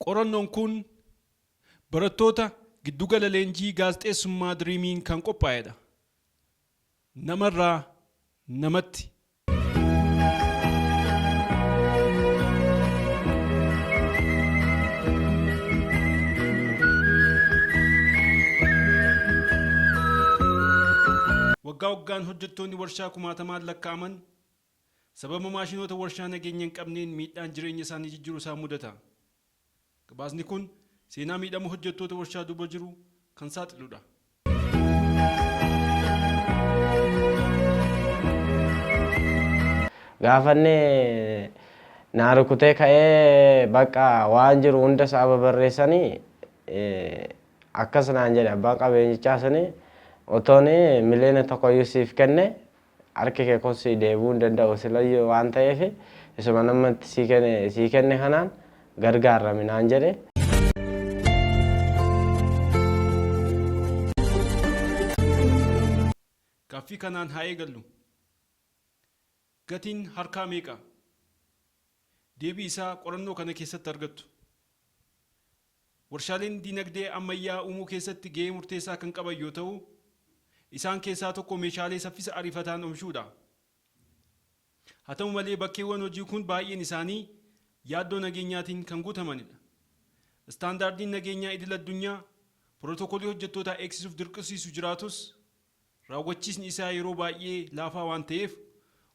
Qorannoon kun barattoota Giddugala Leenjii Gaazexeessummaa Dream'iin kan qophaa'edha. Namarraa namatti. Waggaa waggaan hojjettoonni warshaa kumaatamaan lakkaa'aman Sababa maashinoota warshaa nageenya hin qabneen miidhaan jireenya isaanii jijjiru isaan mudata. Gabaasni kun seenaa miidhama hojjettoota warshaa duuba jiru kan saaxilu dha. Gaafa inni naa rukutee ka'ee bakka waan jiru hunda isaa babarreessanii akkas naan jedhe abbaan qabeenyichaa suni otoon miliyoona tokkoyyuu siif kenne Harki kee kun sii deebi'uu hin danda'u silayyuu waan ta'eef isuma an amma itti sii kenne kanaan gargaarrami naan jedhe. Gaaffii kanaan haa eegallu. Gatiin harkaa meeqa? Deebii isaa qorannoo kana keessatti argattu. Warshaaleen diinagdee ammayyaa uumuu keessatti gahee murteessaa kan qaban yoo ta'u, isaan keessaa tokko meeshaalee saffisa ariifataan omishuudha. Haa ta'u malee bakkeewwan hojii kun baay'een isaanii yaaddoo nageenyaatiin kan guutamanidha. Istaandaardiin nageenyaa idil-addunyaa pirootokolii hojjettootaa eegsisuuf dirqisiisu jiraatus, raawwachiisni isaa yeroo baay'ee laafaa waan ta'eef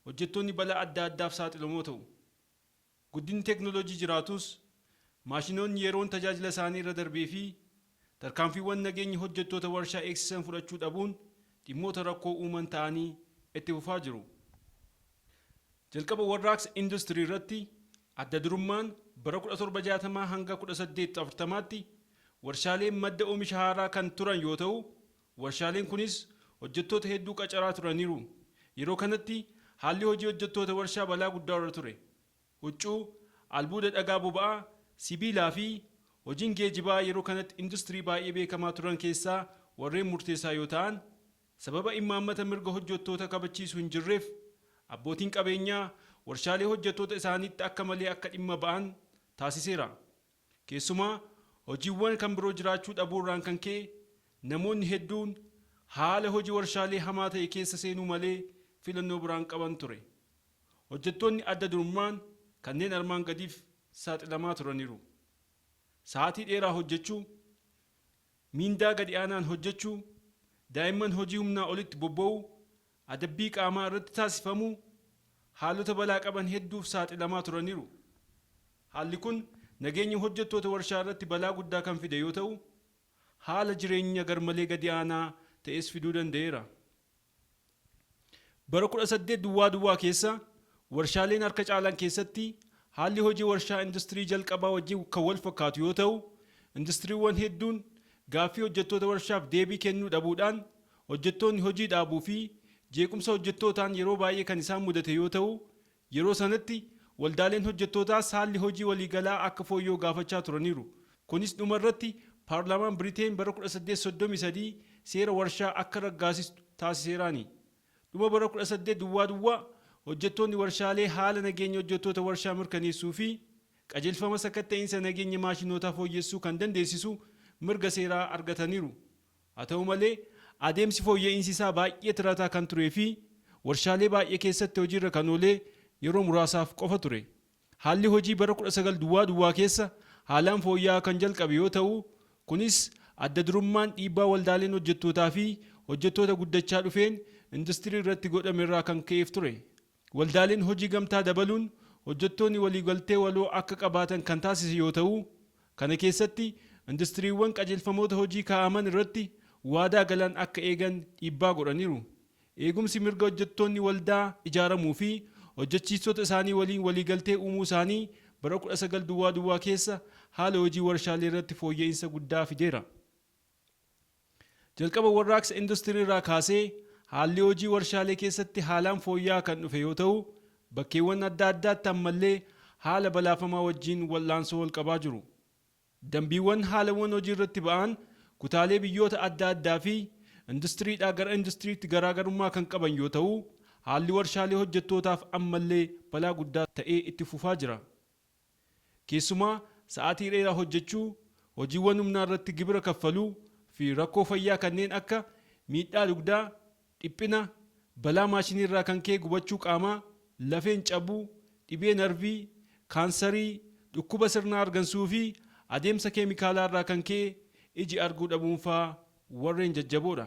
hojjettoonni balaa adda addaaf saaxilamoo ta'u. Guddinni teeknooloojii jiraatus, maashinoonni yeroon tajaajila isaanii irra darbee fi tarkaanfiiwwan nageenyi hojjettoota warshaa eegsisan fudhachuu dhabuun dhimmoota rakkoo uuman ta'anii itti fufaa jiru. Jalqaba warraaqsa industirii irratti adda durummaan bara 1760 hanga 1840tti warshaaleen madda oomisha haaraa kan turan yoo ta'u, Warshaaleen kunis hojjettoota hedduu qacaraa turaniiru. Yeroo kanatti haalli hojii hojjettoota warshaa balaa guddaa irra ture. Huccuu, albuuda dhagaa boba'aa, sibiilaa fi hojiin geejibaa yeroo kanatti industirii baay'ee beekamaa turan keessaa warreen murteessaa yoo ta'an, sababa immaammata mirga hojjettoota kabachiisu hin jirreef abbootiin qabeenyaa warshaalee hojjettoota isaaniitti akka malee akka dhimma ba'an taasiseera. Keessumaa hojiiwwan kan biroo jiraachuu dhabuu irraan kan ka'e namoonni hedduun haala hoji warshaalee hamaa ta'e keessa seenuu malee filannoo biraa hin qaban ture. Hojjettoonni adda durummaan kanneen armaan gadiif saaxilamaa turaniru. Sa'aatii dheeraa hojjechuu, miindaa gadi aanaan hojjechuu, daa'imman hojii humnaa olitti bobba'uu, Adabbii qaamaa irratti taasifamu haalota balaa qaban hedduuf saaxilamaa turaniru. Haalli kun nageenya hojjettoota warshaa irratti balaa guddaa kan fide yoo ta'u, haala jireenya garmalee gadi aanaa ta'es fiduu danda'eera. Bara 18 duwwaa duwwaa keessa warshaaleen harka caalan keessatti haalli hojii warshaa industirii jalqabaa wajjin kan wal fakkaatu yoo ta'u, industiriiwwan hedduun gaaffii hojjettoota warshaaf deebii kennuu dhabuudhaan Hojjettoonni hojii dhaabuu fi jeequmsa hojjettootaan yeroo baay'ee kan isaan mudate yoo ta'u, yeroo sanatti waldaaleen hojjettootaas haalli hojii waliigalaa akka fooyya'u gaafachaa turaniiru. Kunis dhuma irratti paarlaamaan Biriteen bara 1833 seera warshaa akka raggaasistu taasiseeraani. Dhuma bara 18 duwwaa duwwaa hojjettoonni warshaalee haala nageenya hojjettoota warshaa mirkaneessuu fi qajeelfama sakatta'iinsa nageenya maashinootaa fooyyessuu kan dandeessisu mirga seeraa argataniiru. Haa ta'u malee, adeemsi fooyya'iinsi isaa baay'ee tirataa kan turee fi warshaalee baay'ee keessatti hojiirra kan oolee yeroo muraasaaf qofa ture. Haalli hojii bara 19 duwwaa duwwaa keessa haalaan fooyya'aa kan jalqabe yoo ta'u, kunis adda durummaan dhiibbaa waldaaleen hojjettootaa fi hojjettoota guddachaa dhufeen industirii irratti godhame irraa kan ka'eef ture. Waldaaleen hojii gamtaa dabaluun hojjettooni waliigaltee waloo akka qabaatan kan taasise yoo ta'u, kana keessatti industiriiwwan qajeelfamoota hojii kaa'aman irratti waadaa galan akka eegan dhiibbaa godhaniiru. Eegumsi mirga hojjettoonni waldaa ijaaramuu fi hojjechiistota isaanii waliin waliigaltee uumuu isaanii bara 19 duwwaa duwwaa keessa haala hojii warshaaleerratti fooyya'insa guddaa fideera. Jalqaba warraaqsa industiriirraa kaasee haalli hojii warshaalee keessatti haalaan fooyya'aa kan dhufe yoo ta'u, bakkeewwan adda addaatti ammallee haala balaafamaa wajjin wal'aansoo walqabaa jiru. Dambiiwwan haalawwan hojiirratti ba'aan kutaalee biyyoota adda addaafi industiriidhaa gara industiriitti garaagarummaa kan qaban yoo ta'u, haalli warshaalee hojjettootaaf ammallee balaa guddaa ta'ee itti fufaa jira. Keessumaa sa'aatii dheeraa hojjechuu, hojiiwwan humnaa irratti gibira kaffaluu, fi rakkoo fayyaa kanneen akka miidhaa dugdaa, dhiphina, balaa maashinii irraa kan ka'e gubachuu qaamaa, lafeen cabuu, dhibee narvii, kaansarii, dhukkuba sirna hargansuu fi adeemsa keemikaalaa irraa kan ka'e iji arguu dhabuunfaa warreen jajjaboodha.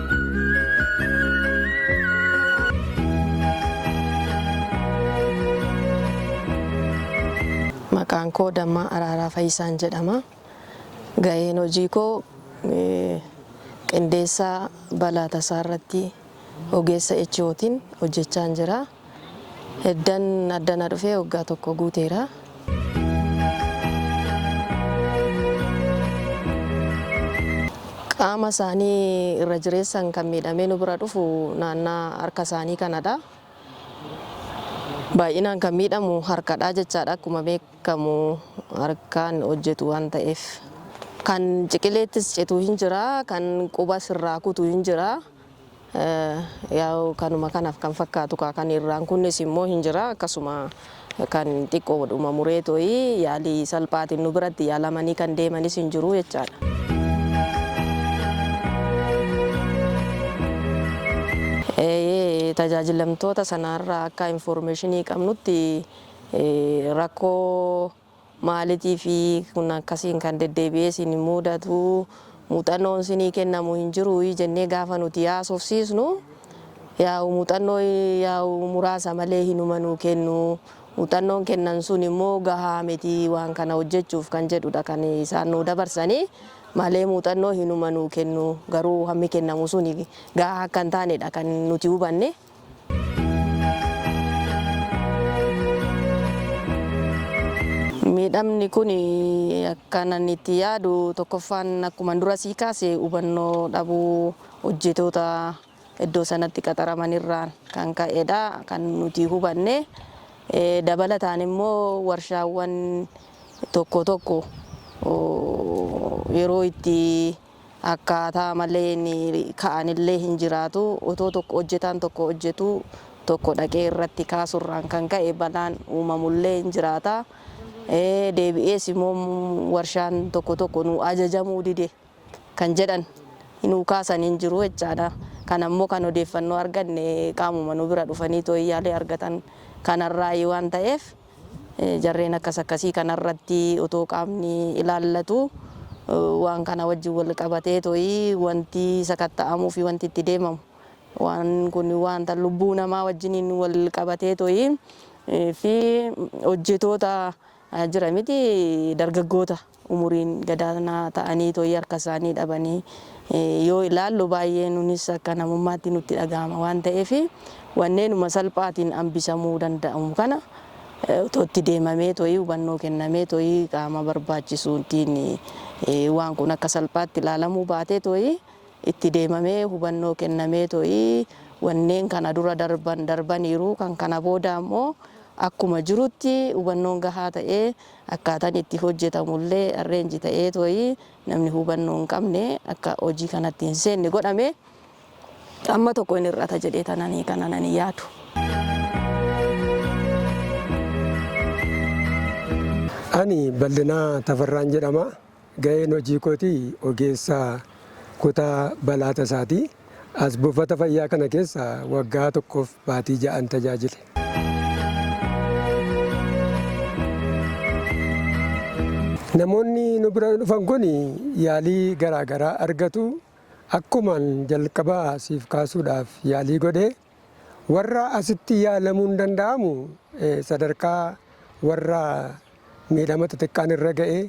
Maqaan koo Dammaa Araaraa Fayisaan jedhama. Gaheen hojii koo qindeessaa balaa tasaa irratti ogeessa HOtiin hojjechaan jira. Eddan addana dhufee waggaa tokko guuteera. Qaama isaanii irra jireessan kan miidhamee nu bira dhufu naannaa harka isaanii kanadha. Baay'inaan kan miidhamu harkadha jechaadha akkuma beekamu harkaan hojjetu waan ta'eef. Kan ciqileettis citu hin jira, kan qubas irraa kutu hin jira. Yaw kanuma kanaf kan fakkaatu kaa kan irraan kunnis immoo hin jira akkasuma kan xiqqoodhuma mureetoi yaalii salphaatiin nu biratti yaalamanii kan deemanis hin jiru jechaadha. Eeyee tajaajilamtoota sanaarraa akka informeeshinii qabnutti rakkoo. Maalitiifi kun akkasiin kan deddeebi'ee isin muudatu? Muuxannoon isinii kennamu hin jiruuyii? jennee gaafa nuti haasofsiisnu, yaa'u muuxannoo yaa'u muraasa malee hinuma nuu kennu. Muuxannoon kennan sun immoo gahaa miti waan kana hojjechuuf kan jedhudha kan isaan nuu dabarsani malee muuxannoo hinuma nuu kennu. Garuu hammi kennamu suni gahaa akka hin taanedha kan nuti hubanne. Miidhamni kun akkan ani itti yaadu tokkoffaan akkuma dura sii kaase hubannoo dhabuu hojjetoota iddoo sanatti qaxaraman irraan kan ka'edha kan nuti hubanne. Dabalataan immoo warshaawwan tokko tokko yeroo itti Akkaataa maleen ka'anillee hin jiraatu. Otoo tokko hojjetaan tokko hojjetu tokko dhaqee irratti kaasurraan kan ka'e balaan uumamullee hin jiraata. Deebi'ees immoo warshaan tokko tokko nuu ajajamuu dide kan jedhan nuu kaasan hin jiru jechaadha. Kana immoo kan odeeffannoo arganne qaamuma nu bira dhufanii tooyyaalee argatan kanarraayi waan ta'eef. Jarreen akkas akkasii kana irratti otoo qaamni ilaallatu waan kana wajjin wal qabatee to'i wanti sakatta'amuu fi wanti itti deemamu waan kun waanta lubbuu namaa wajjiniin wal qabatee to'i fi hojjetoota jira miti dargaggoota. umuriin gadaanaa ta'aniitoi harkasaanii dhabanii yoo ilaallu baay'ee nunis akka namummaatti nutti dhaga'ama waan ta'eef wanneenuma salphaatiin ambisamuu danda'amu kana otoo itti deemameetoi hubannoo kennameetoi qaama barbaachisuutiin waan kun akka salphaatti ilaalamuu baateetoi itti deemamee hubannoo kennameetoi wanneen kana dura darban darbaniiru kan kana booda ammoo akkuma jirutti hubannoon gahaa ta'ee Akkaataan itti hojjetamu illee arrange ta'eet wayii namni hubannoo hin qabne akka hojii kanatti hin seenne godhame. Amma tokko hin hir'ata jedheetan ani kanan ani yaadu. Ani Ballinaa Tafarraan jedhama. Gaheen hojii kootii ogeessa kutaa balaa tasaati. As buufata fayyaa kana keessa waggaa tokkoof baatii ja'an tajaajile. Namoonni nu bira dhufan kun yaalii garaa garaa argatu. Akkuman jalqaba siif kaasuudhaaf yaalii godhe, warra asitti yaalamuun danda'amu sadarkaa warra miidhama xixiqqaan irra ga'ee,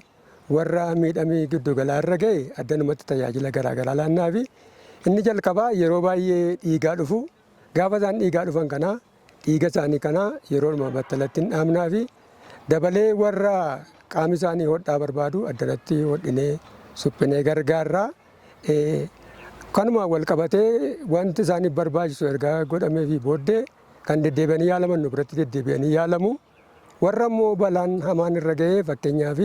Warra miidhami giddu galaa irra ga'e addanumatti tajaajila garaa garaa laannaafi. Inni jalqabaa yeroo baay'ee dhiigaa dhufu. Gaafa isaan dhiigaa dhufan kana dhiiga isaanii kana yeroodhuma battalatti hin dhaabnaafi. Dabalee warra qaami isaanii hodhaa barbaadu addanatti hodhinee suphinee gargaarra. Kanumaan wal qabatee wanti isaaniif barbaachisu erga godhameefii booddee kan deddeebi'anii yaalaman nu biratti deddeebi'anii yaalamu. Warra immoo balaan hamaan irra ga'e fakkeenyaaf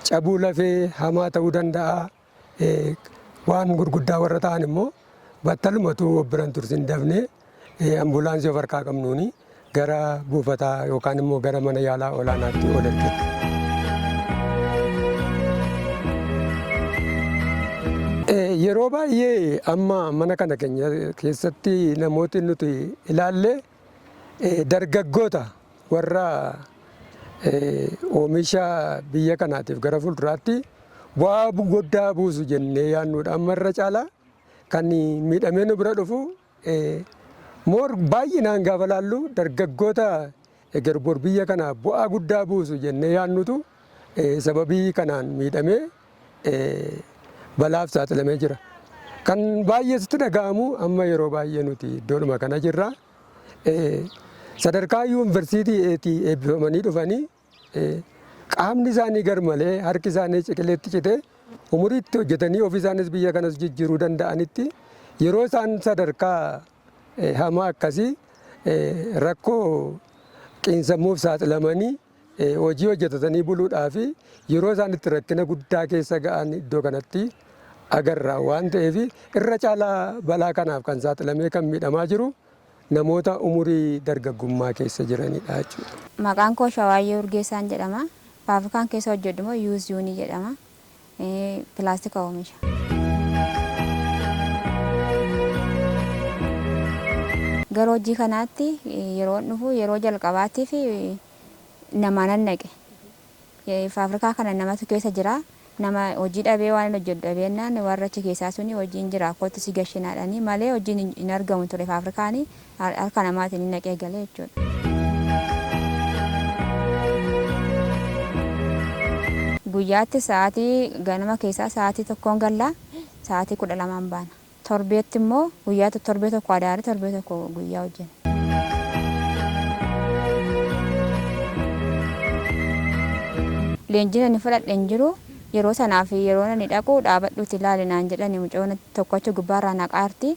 cabuu lafee hamaa ta'uu danda'a. Waan gurguddaa warra ta'an immoo battalumatu of biran tursin dafnee ambulaansii of harkaa qabnuuni gara buufataa yookaan immoo gara mana yaalaa olaanaatti ol ergina. Yeroo baay'ee amma mana kana keenya keessatti namooti nuti ilaallee Dargaggoota warra oomisha biyya kanaatiif gara fuulduraatti bu'aa guddaa buusu jennee yaadnuudha. Amma irra caalaa kan miidhamee nu bira dhufu moor baay'inaan gaafa laallu dargaggoota eger bor biyya kana bu'aa guddaa buusu jennee yaadnutu sababii kanaan miidhamee balaaf saaxilamee jira. Kan baay'ee sitti dhaga'amu amma yeroo baay'ee nuti iddoodhuma kana jirra. Sadarkaa yuunivarsiitii eetii eebbifamanii dhufanii qaamni isaanii garmalee harki isaanii ciqileetti citee umuriitti hojjetanii ofii isaanis biyya kanas jijjiiruu danda'anitti yeroo isaan sadarkaa hamaa akkasii rakkoo qiinsammuuf saaxilamanii Hojii hojjetatanii buluudhaaf yeroo isaan itti rakkina guddaa keessa ga'an iddoo kanatti agarra waan ta'eef irra caalaa balaa kanaaf kan saaxilamee kan miidhamaa jiru namoota umurii dargaggummaa keessa jiranidha jechuudha. Maqaan koo Shawaayyee Urgeessaan jedhama. Faafrikaan keessa hojjedhu immoo Yuuz Yuunii jedhama. pilaastika oomisha. Gara hojii kanaatti yeroon dhufu yeroo jalqabaatiif namaanan dhaqe. Faafrikaa kana namatu keessa jira. Nama hojii dhabee waan hojjedhu dhabeennaan warra achi keessaa suni hojiin jira kootti si gashinaadhani malee hojiin hin argamu ture faafrikaani harka namaatiin hin naqee galee jechuudha. Guyyaatti sa'aatii ganama keessaa sa'aatii tokkoon galla sa'aatii kudha lamaan baana. Torbeetti immoo guyyaa torbee tokko adaare torbee tokko guyyaa hojjenna. Leenjiin ani fudhadhe hin jiru. Yeroo sanaa fi yeroo ani dhaqu dhaabadhuuti ilaali naan jedhani mucoon tokkochi gubbaarraa naqaarti.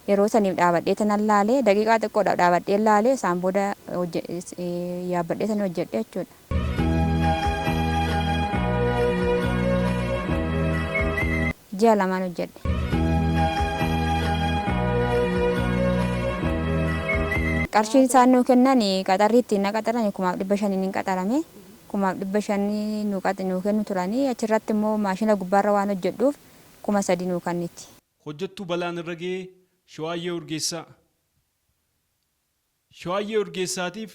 Yeroo saniif dhaabadheetanan laale. Daqiiqaa xiqqoodhaaf dhaabadheen laale. Isaan booda yaabbadheetanii hojjedhe jechuudha. Ji'a lamaan hojjedhe. Qarshiin isaan nuu kennan qaxarri ittiin na qaxaran kumaaf dhibba shaniin hin qaxarame. Kumaaf dhibba shanii nuu kennu turanii achirratti immoo maashina gubbaarra waan hojjedhuuf kuma sadii nuu kanniti. hojjettuu balaan irra ga'e Shawaayyee Urgeessaa. Shawaayyee Urgeessaatiif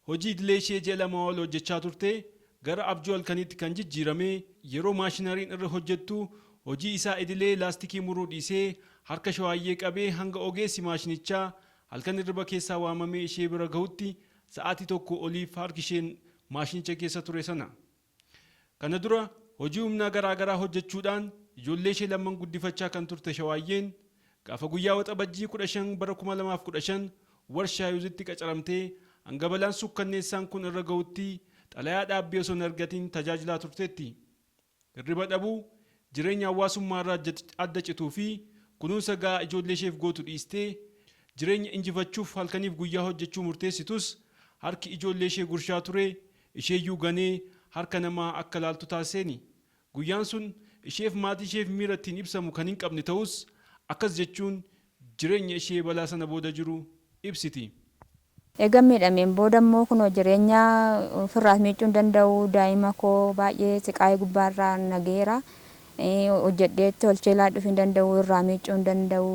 hojii idilee ishee ji'a lamaa ol hojjechaa turte gara abjuu halkaniitti kan jijjiirame yeroo maashinariin irra hojjettu hojii isaa idilee laastikii muruu dhiisee harka Shawaayyee qabee hanga ogeessi maashinichaa halkan hirriba keessaa waamamee ishee bira gahutti sa'aatii tokkoo oliif harki isheen maashinicha keessa ture sana Kana dura hojii humnaa garaa garaa hojjechuudhaan ijoollee ishee lamman guddifachaa kan turte Shawaayyeen, gaafa guyyaa Waxabajjii 15 bara 2015 Warshaa Yuuzitti qacaramtee hanga balaan suukkanneessaan kun irra gahutti xalayaa dhaabbii osoo hin argatiin tajaajilaa turteetti. Hirriba dhabuu, jireenya hawaasummaa irraa adda cituu fi kunuunsa ga'aa ijoollee isheef gootu dhiistee jireenya injifachuuf halkaniif guyyaa hojjechuu murteessitus harki ijoollee ishee gurshaa ture Isheeyyuu ganee harka namaa akka laaltu taasiseeni. Guyyaan sun isheef maatiisheef miira ittiin ibsamu kan hinqabne ta'us, akkas jechuun jireenya ishee balaa sana booda jiru ibsiti. Eegan miidhameen booda immoo kunoo jireenya ofirraas miiccuu hin danda'u, daa'ima koo baay'ee siqaayii gubbaarra na gaheera. Hojjedhee tolchee laadhuuf hin danda'u, irraa miiccuu hin danda'u.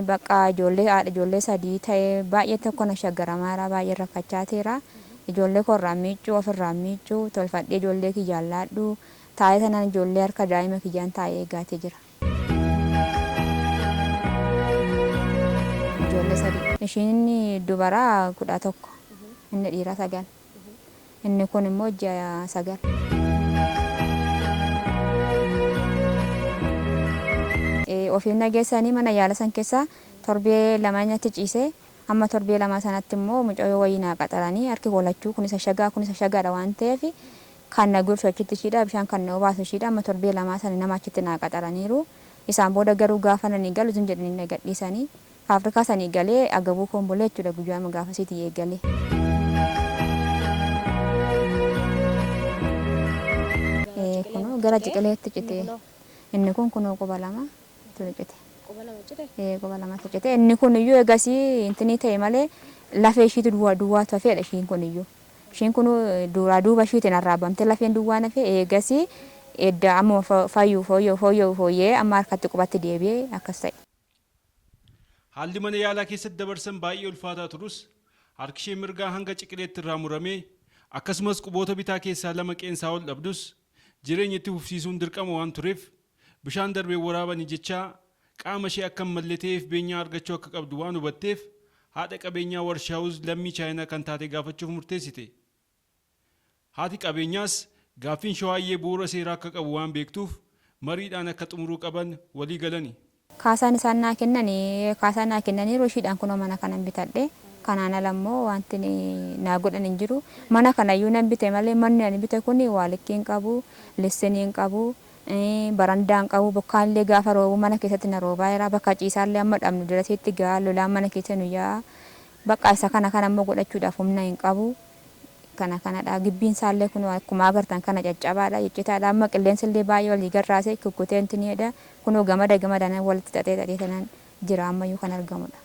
Baqqa ijoollee haadha ijoollee sadii ta'ee baay'ee tokko na shaggaramaa jira baay'een rakkachaa teera ijoollee koo irraan miiccuu of irraan miiccuu tolfadhee ijoollee kiyyaan laadhuu taa'ee tanan ijoollee harka daa'ima kiyyaan taa'ee eegaatee jira. Ijoollee sadii ishiin inni dubaraa kudha tokko inni dhiiraa sagal. Inni kun immoo ji'a sagal. Ofiif na geessanii mana yaala san keessa torbee lama inni achi ciise. Amma torbee lamaa sanatti immoo mucayyoo wayii naa qaxaranii harki koo lachuu kunis ashagaa kunis ashagaadha waan ta'eef kan na gurshu achitti ishiidha bishaan kan na obaasu ishiidha amma torbee lamaa sana nama achitti naa qaxaraniiru. Isaan booda garuu gaafa nani galu zim jedhanii na gadhiisanii Afrikaa sanii galee agabuu koon bulee jechuudha guyyaama gaafasiitii eegalee. Ee, kunoo gara ciqileetti cite inni kun kunoo quba lama ture cite. Quba lama cite. Ee, quba lamatti cite inni kun iyyuu egasii intinii ta'e malee lafee ishiitu duwwaa duwwaatu hafeedha ishiin kun iyyuu. Ishiin kun duraa duuba ishiitiin arraabamtee lafeen duwwaan hafee eegasii edda amma fayyuu fooyya'u fooyya'u fooyya'ee amma harkatti qubatti deebi'ee akkas ta'e. Haalli mana yaalaa keessatti dabarsan baay'ee ulfaataa turus, harkishee mirgaa hanga ciqileetti irraa muramee, akkasumas quboota bitaa keessaa lama qeensaa ol dhabdus, jireenya itti fufsiisuun dirqama waan tureef, bishaan darbeen waraabani jechaa, qaama ishee akka hin malle ta'eef beenyaa argachuu akka qabdu waan hubatteef, haadha qabeenyaa Warshaawuz lammii Chaayinaa kan taate gaafachuuf murteessite. Haati qabeenyaas gaaffiin Shawaayyee bu'uura seeraa akka qabu waan beektuuf mariidhaan akka xumuruu qaban walii galani. Kaasaan isaan naa kennani kaasaa naa kennaniiru ishiidhaan kunoo mana kanan bitadhe. Kanaan ala immoo waanti naa godhan hin jiru. Mana kana iyyuu nan bite malee manni ani bite kun waa likkii hin qabu, lissinii hin qabu, barandaa hin qabu, bokkaan illee gaafa roobu mana keessatti na roobaa jira, bakka ciisaa illee hamma dhabnu dirasiitti ga'a, lolaan mana keessa nu yaa'a. Baqqa isa kana kana immoo godhachuudhaaf humna hin qabu. Kana kanadha. Gibbiin isaa illee kunoo akkuma agartan kana caccabaadha, ciccitaadha. Amma qilleensi illee baay'ee walii gad raasee kukkutee intini jedha. Kunoo gamada gamadaan walitti xaxee xaxee tanan jira amma iyyuu kan argamudha.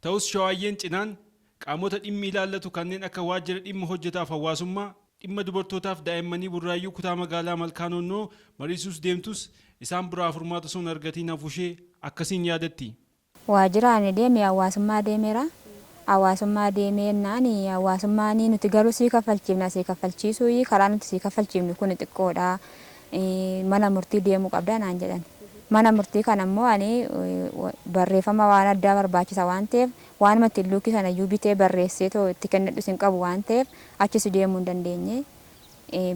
Ta'us Shawaayyeen cinaan qaamota dhimmi ilaallatu kanneen akka Waajjira Dhimma Hojjetaaf Hawaasummaa, Dhimma Dubartootaaf Daa'immanii Burraayyuu Kutaa Magaalaa Malkaa Noonnoo mariisuus deemtus isaan biraa furmaata osoo hin argatiin hafuushee akkasiin yaadatti. Waajjiraan deeme hawaasummaa deemeera. Hawaasummaa deemee jennaan hawaasummaan nuti garuu sii kaffalchiifna sii kaffalchiisuuyii karaa nuti sii kaffalchiifnu kuni xiqqoodha. Mana murtii deemuu qabda naan jedhan. Mana murtii kana immoo ani barreeffama waan addaa barbaachisa waan ta'eef waanuma ittiin luukii sanayyuu bitee barreesseetoo itti kennadhus hin qabu waan ta'eef achis deemuu hin dandeenye.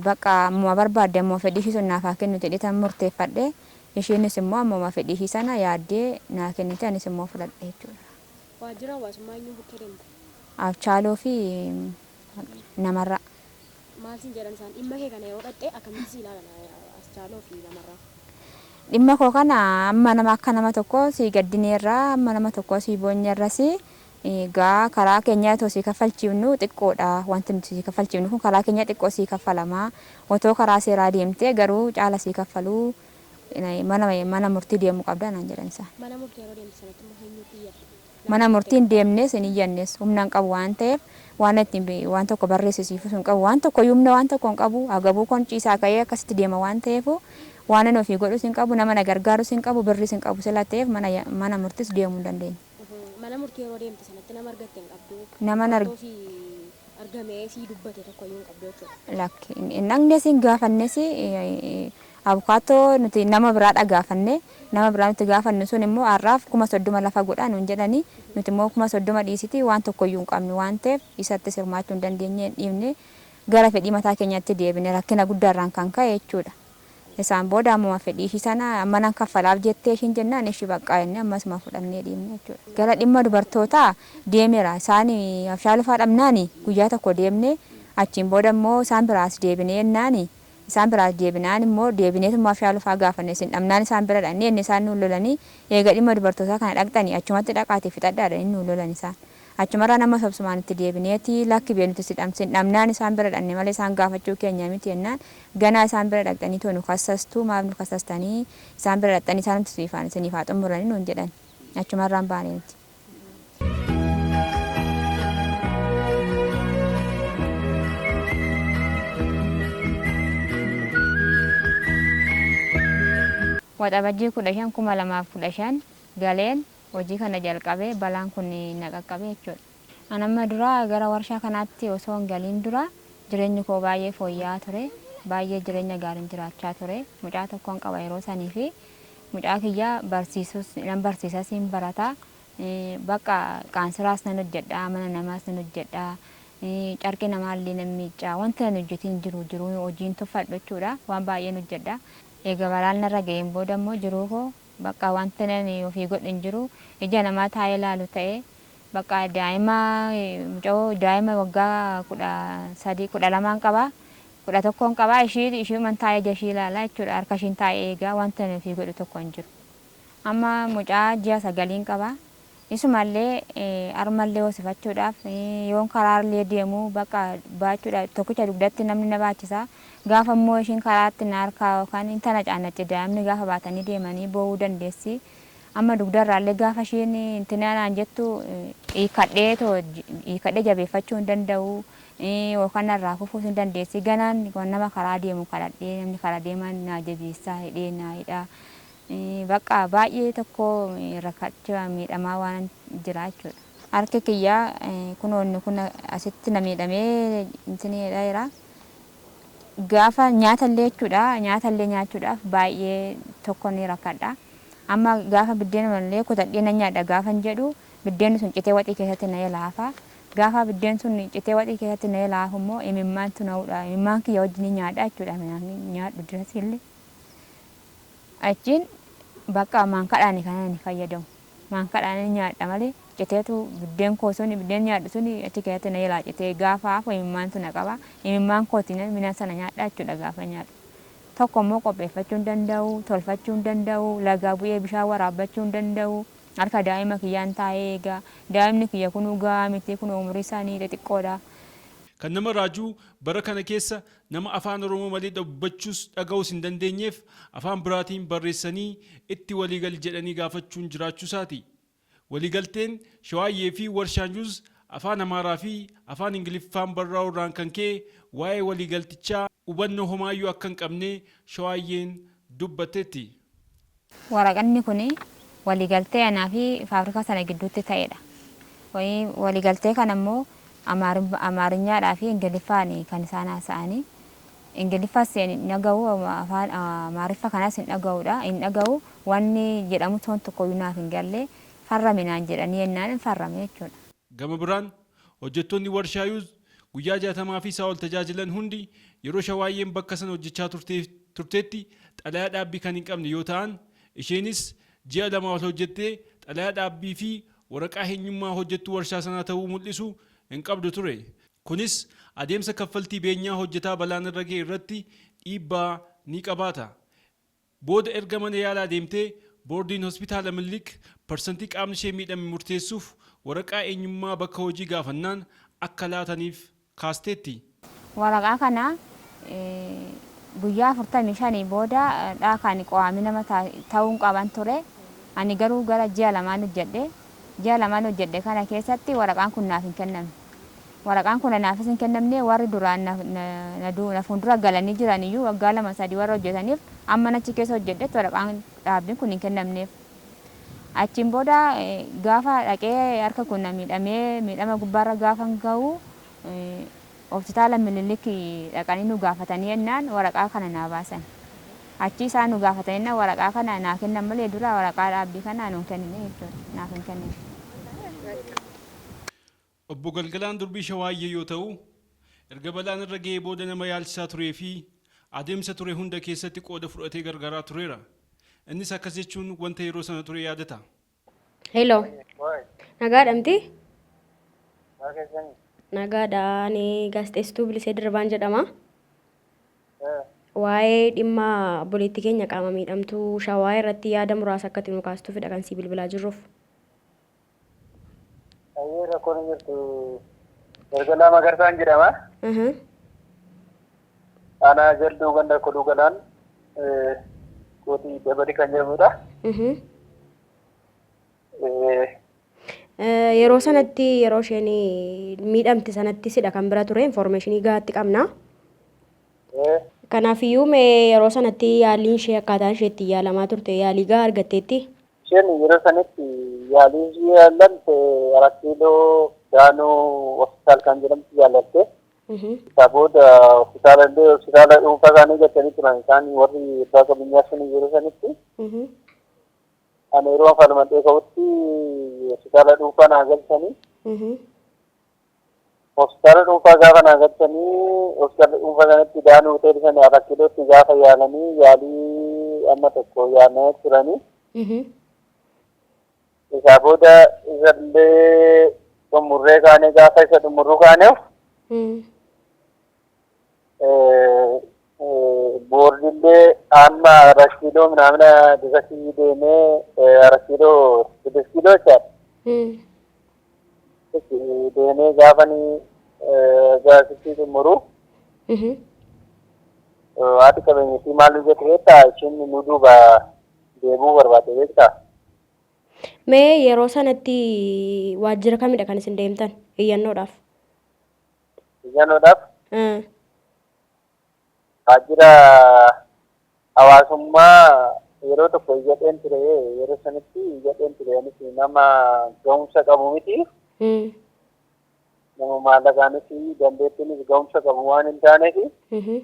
Baqqa ammuma barbaadde ammuma fedhii ishii sun naaf haa kennu jedheetan murteeffadhe. Ishiinis immoo ammuma fedhii ishii sana yaaddee naa kennite anis immoo fudhadhe jechuudha. Waajjira hawaasummaa eenyuu bukkee deemte? Afchaaloo fi Namarraa. Maal siin jedhan isaan? Dhimma kee kana yeroo dhaqxe akkamitti si ilaalan Aschaaloo fi Namarraa? Dhimma koo kana amma nama akka nama tokkoo sii gaddineerra, amma nama tokkoo sii boonyeerras Egaa karaa keenyaa otoo sii kaffalchiifnu xiqqoodha wanti nuti sii kaffalchiifnu kun karaa keenyaa xiqqoo sii kaffalama otoo karaa seeraa deemtee garuu caala sii kaffaluu mana murtii deemuu qabda naan jedhan isaan. Mana murtii yeroo deemtu sanatti immoo eenyuutti iyyatta? Mana murtii hin deemnes hin iyyannes humna hin qabu waan ta'eef waan ittiin waan tokko barreessisiifus hin qabu waan tokko iyyuu humna waan tokko hin qabu agabuu koon ciisaa ka'ee akkasitti deema waan ta'eefuu waanan ofii godhus hin qabu nama na gargaarus hin qabu birriis hin qabu sila ta'eef mana murtiis deemuu hin dandeenye. Mana murtii yeroo deemte sanatti nama argatte hin qabdu. Naman Wanta arg- ofii argamee sii dubbate tokkoyyuu hin qabdu jechuudha. lakki hin hin dhaqnes hin gaafannes eh, abukaattoo nuti nama biraadha gaafanne nama biraa nuti gaafannu sun immoo har'aaf kuma soddoma lafa godha nuun jedhani nuti immoo kuma soddoma dhiisiti waan tokkoyyuu hin qabnu waan ta'eef isattis hirmaachuu hin dandeenye hin dhiifne gara fedhii mataa keenyatti deebine rakkina guddaarraan kan ka'e jechuudha. Isaan booda ammuma fedhii ishii sana amma nan kaffalaaf jettee ishiin jennaan eshi baqqaa jennee amma isuma fudhannee dhiifne jechuudha. Gara dhimma dubartootaa deemera. Isaan abshaa lafaa dhabnaan guyyaa tokko deemne achiin booda immoo isaan biraa as deebinee jennaan isaan biraa as deebinaan immoo deebineetuma abshaa lafaa gaafanne isin dhabnaan isaan bira dhaqne jennee isaan nuun lolanii eega dhimma dubartootaa kana dhaqxanii achumatti dhaqaatii fixadhaa jedhanii nuun lolan isaan. Achumarraa nama sobsumaan itti deebineeti, Lakki bee nuti si dhamsin dhabnaan isaan bira dhaqne malee isaan gaafachuu keenya miti jennaan, Ganaa isaan bira dhaqxaniitoo nu kassastu, maaf nu kassastanii? Isaan bira dhaqxanii isaanumti isiniifaan isiniif haa xummuranii nuun jedhan. Achumarraan baane nuti. Waxabajjii 15, 2015 galeen hojii kana jalqabe balaan kun na qaqqabe jechuudha. An amma dura gara warshaa kanaatti osoo hin galiin dura jireenyi koo baay'ee fooyya'aa ture. Baay'ee jireenya gaariin jiraachaa ture. Mucaa tokkon qaba yeroo sanii fi mucaa kiyya barsiisuus nan barsiisas hin barata. Bakka qaansiraas nan hojjedha, mana namaas nan hojjedha, carqii namaallee nan miicca. Wanti ani hojjetiin hin jiru jiruu hojiin tuffadhu jechuudha. Waan baay'een hojjedha. Eega balaan narra ga'een booda immoo jiruu koo Baqqa wantin ani ofii godhe hin jiru. Ija namaa taa'ee laalu ta'e. Baqqa daa'ima mucayoo daa'ima waggaa 13, 12n qaba. 11n qaba. Ishii ishiiman taa'ee ija ishii ilaala jechuudha. Harka ishiin taa'ee eega. Wanti ani ofii godhu tokko hin jiru. Amma mucaa ji'a sagaliin qaba. Isumallee arumallee hosifachuudhaaf yoon karaarllee deemu bakka baachuudhaaf tokkicha dugdatti namni na baachisa. Gaafa immoo ishiin karaatti na harkaa yookaan hin tanacaannacci daa'imni gaafa baatanii deemanii boo'uu dandeessi. Amma dugdarraallee gaafa ishiin hin tinaa naan jettu hiikkadhee too hiikkadhee jabeeffachuu hin danda'u yookaan narraa kufuus ni dandeessi. Ganaan nama karaa deemu kadhadhee namni karaa deeman naa jabeessaa hidhee naa hidha. Baqqa baay'ee tokko rakkachaa miidhamaa waanan jira jechuudha. Harki kiyya kunoo inni kun asitti na miidhamee intinii jedhaa jira. Gaafa nyaata illee jechuudha nyaata illee nyaachuudhaaf baay'ee tokko ni rakkadha. Amma gaafa biddeenuma illee kutadhee nan nyaadha gaafan jedhu biddeenni sun citee waxii keessatti na jala hafa. Gaafa biddeen sun citee waxii keessatti na jala hafu immoo imimmaantu na hudha. Imimmaan kiyya wajjin nyaadha jechuudha nyaadhu dirasii illee. Achiin bakka maankadhaani kanan ani fayyadamu. Maankadhaanin nyaadha malee citeetu biddeen koo suni biddeen nyaadhu suni achi keessatti na jalaa citee gaafa hafu imimmaantu na qaba. Imimmaan kootiinan midhaan sana nyaadha jechuudha gaafan nyaadhu. Tokko immoo qopheeffachuu hin danda'u, tolfachuu hin danda'u, lagaa bu'ee bishaan waraabbachuu hin danda'u. Harka daa'ima kiyyaan taa'ee eega. Daa'imni kiyya kunuu gahaa miti kunoo umuriisaanii xixiqqoodha. Kan nama raaju bara kana keessa Nama Afaan Oromoo malee dubbachuus dhagahuus hin dandeenyeef afaan biraatiin barreessanii itti walii gali jedhanii gaafachuun jiraachuusaati. Walii galteen Shawaayyee fi Warshaan Juuz Afaan Amaaraa fi Afaan Ingiliffaan barraa'uu irraan kan ka'e waa'ee walii galtichaa hubannoo homaayyuu akka hin qabne Shawaayyeen dubbatteetti. Waraqanni kun waliigaltee anaa fi faabirikaa sana gidduutti ta'e dha. Waliigaltee kana immoo Amaarinyaadhaa fi Ingiliffaani kan isaan haasa'ani. Ingiliffas hin dhaga'u, afaan Amaariffa kanas hin dhaga'u dha, hin dhaga'u. Wanni jedhamu toon tokko iyyuu naaf hin galle. Farrami naan jedhanii jennaan hin farrame jechuu dha. Gama biraan, hojjettoonni warshaa Yuuz Guyyaa jaatamaa fi isaa ol tajaajilan hundi yeroo Shawaayyeen bakka sana hojjechaa turtee turtetti xalayaa dhaabbii kan hin qabne yoo ta'an, isheenis ji'a lamaa ol hojjettee xalayaa dhaabbii fi waraqaa heenyummaa hojjettuu warshaa sanaa ta'uu mul'isu hin qabdu ture. Kunis adeemsa kaffaltii beenyaa hojjetaa balaan irra ga'e irratti dhiibbaa ni qabaata. Booda erga mana yaalaa deemtee Boordiin Hospitaala Minilik parsantii qaamni ishee miidhame murteessuuf waraqaa eenyummaa bakka hojii gaafannaan akka laataniif kaasteetti. Waraqaa kana guyyaa 45 booda dha kan qoaamii nama tauun qaban ture. Ani garuu gara ji'a lamaan hojjedhe. Ji'a lamaan hojjedhe kana keessatti waraqaan kun naaf hin kennamne. Waraqaan kun anaafis hin kennamne, warri duraan na fuuldura galanii jiran iyyuu waggaa lama sadii warra hojjetaniif amman achi keessa hojjedhetti waraqaan dhaabbiin kun hin kennamneef. Achiin booda gaafa dhaqee harka koo na miidhamee miidhama gubbaarra gaafan gahu Hospitaala Minilik dhaqanii nu gaafatanii ennaan waraqaa kana naa baasan. Achii isaan nu gaafatanii ennaan waraqaa kana naa kennan malee dura waraqaa dhaabbii kana nu hin kennine jechuudha. Naaf hin kennine. Obbo Galgalaan Durbii Shawaayyee yoo ta'u, erga balaan irra ga'ee booda nama yaalchisaa turee fi adeemsa ture hunda keessatti qooda fudhatee gargaaraa tureera. Innis akkas jechuun wanta yeroo sana ture yaadata. Hello. Waa'ee. Nagaadhamti? Maa keessanii? Nagaadha. Ani gaazexeessituu Bilisee Dirribaan jedhama. Ee. Waa'ee dhimma obboleettii keenya qaama miidhamtuu Shawaa irratti yaada muraasa akka itti nu kaastuufidha kan sii bilbilaa jirruuf. Ayyee rakkoon hin jirtu. Ergalaa Magarsaan jedhama. Aha. Aanaa jalduu ganda koduu galaan eh, kootii dabali kan jedhamudha. Mhm. Eh, Eh, Yeroo sanatti yeroo isheen miidhamte sanatti sidha kan bira ture infoormeeshinii gahaatti qabna. eh, Kanaafiyyuu mee yeroo sanatti yaaliin ishee akkaataan ishee ittiin yaalamaa turte yaalii gahaa argatteetti. Isheen yeroo sanitti yaalii ishii yaallatte Arat Kiiloo Daanuu Hospitaal kan jedhamtu yaallatte. Isaa booda hospitaala illee hospitaala dhuunfaa isaanii galchanii turan isaan warri abbaa qabeenyaa sun yeroo sanitti. Ani yeroo falmadhee ka'utti hospitaala dhuunfaa naa galchanii. Hospitaala dhuunfaa gaafa naa galchanii hospitaala dhuunfaa sanatti Daan Hotel sana Arakkileetti gaafa yaalanii yaalii amma tokko yaalanii turanii. Isaa booda isallee xumurree kaanee gaafa isa xumurru kaaneef Boordillee amma Arasiidoo minaamina dibasii deemee Arasiidoo Sidiskiidoo jechaadha. Deemee gaafanii gaasitti xumuru. Haati qabeenyatti maal hojjete beektaa? Ishiin nu duuba deebi'uu barbaadde beektaa? Mee yeroo sanatti waajjira kamidha kan isin deemtan iyyannoodhaaf? Iyyannoodhaaf Mm. waajjira hawaasummaa yeroo tokko iyyadheen ture yeroo sanitti iyyadheen ture anis nama ga'umsa qabu miti Mm. nama maallaqaanis dandeettiinis ga'umsa qabu waan hin taaneef Mhm.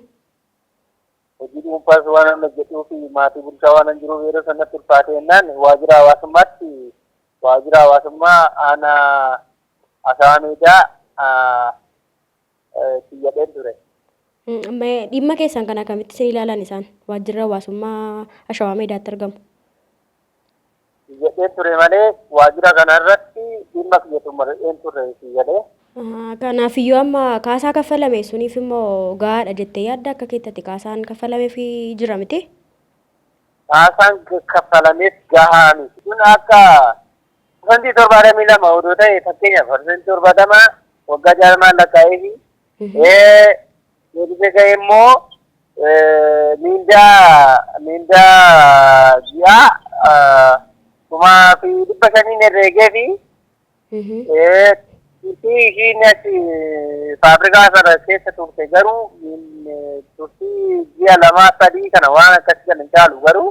hojii dhuunfaas waan hin hojjetuu fi maatii bulchaa waan hin jiruuf yeroo sanatti ulfaatee jennaan waajjira hawaasummaatti waajjira hawaasummaa aanaa Ashawameedaa siin jedheen ture. Dhimma keessan kana akkamitti isin ilaalan isaan? Waajjirri hawaasummaa Ashawaa Meedaatti argamu. Siin jedheen ture malee waajjira kana irratti dhimma kiyya xumureen turre siin jedhee. Kanaafiyyuu amma kaasaa kaffalame suniif immoo gahaadha jettee yaadda akka keettati kaasaan kaffalameef jira miti? Kaasaan kaffalameef gahaa miti. Kun akka Parsantii torbaatamii lama odoo ta'e fakkeenyaaf parsantii torbaatama waggaa jaarmaan lakkaa'eefi deebisee ga'e immoo miindaa miindaa ji'aa kumaa fi dhibba shaniin herreegeefi turtii ishiin achi faabrikaa sana keessa turte garuu turtii ji'a lamaa sadii kana waan akkasii kan hin caalu garuu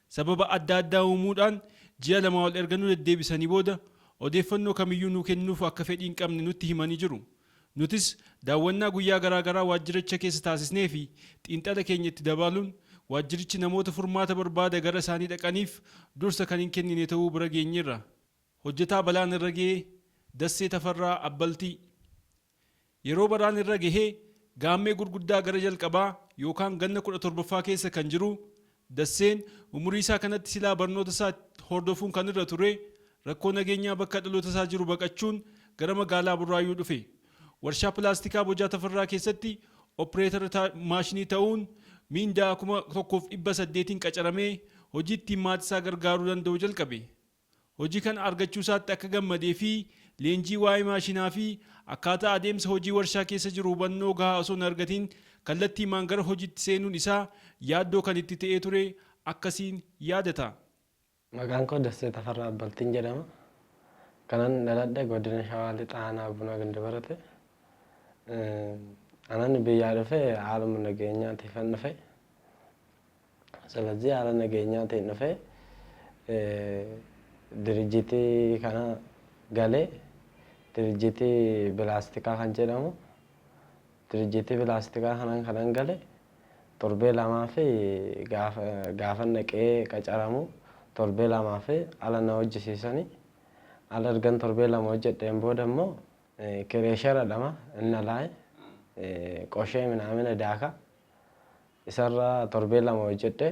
Sababa adda addaa uumuudhaan ji'a lama ol erga nu deddeebisanii booda odeeffannoo kamiyyuu nuu kennuuf akka fedhii hin qabne nutti himanii jiru. Nutis daawwannaa guyyaa garaa garaa waajjiricha keessa taasisnee fi xiinxala keenya itti dabaaluun waajjirichi namoota furmaata barbaada gara isaanii dhaqaniif dursa kan hin kennine ta'uu bira geenyeerra. Hojjetaa balaan irra ga'e Dassee Tafarraa Abbaltii. Yeroo baraan irra gahee gaammee gurguddaa gara jalqabaa yookaan ganna 17ffaa keessa kan jiruu Dasseen umurii isaa kanatti silaa barnoota isaa itti hordofuun kan irra turee rakkoo nageenyaa bakka dhaloota isaa jiru baqachuun gara magaalaa Burraayyuu dhufe. Warshaa pilaastikaa Bojaa Tafarraa keessatti oppireetara ta maashinii ta'uun miindaa 1800n qacaramee hojii ittiin maati isaa gargaaruu danda'u jalqabe. hojii kana argachuusaatti akka gammadee fi leenjii waa'ee maashinaa fi akkaataa adeemsa hojii warshaa keessa jiru hubannoo gahaa osoo hin argatiin kallattiimaan gara hojiitti seenuun isaa yaaddoo kan itti ta'ee ture akkasiin yaadata. Maqaan koo Dassee Tafarraa Abbaltiin jedhama. Kanan dhaladhe Godina Shawaa Lixaa Aanaa Bunaa Gindabarati. Kanan biyyaa dhufe haaluma nageenyaatiifan dhufe. Selazii haala nageenyaatiin dhufe dirijitii kana gale dirijitii bilaastikaa kan jedhamu dirijitii bilaastikaa kanan kanan gale torbee lamaa fi gaafan dhaqee qacaramu torbee lamaa fi ala na hojjisiisani ala ergan torbee lama hojjedheen booda immoo kireesharadhama inna laay qoshee minaamina daaka Isarra torbee lama hojjedhe.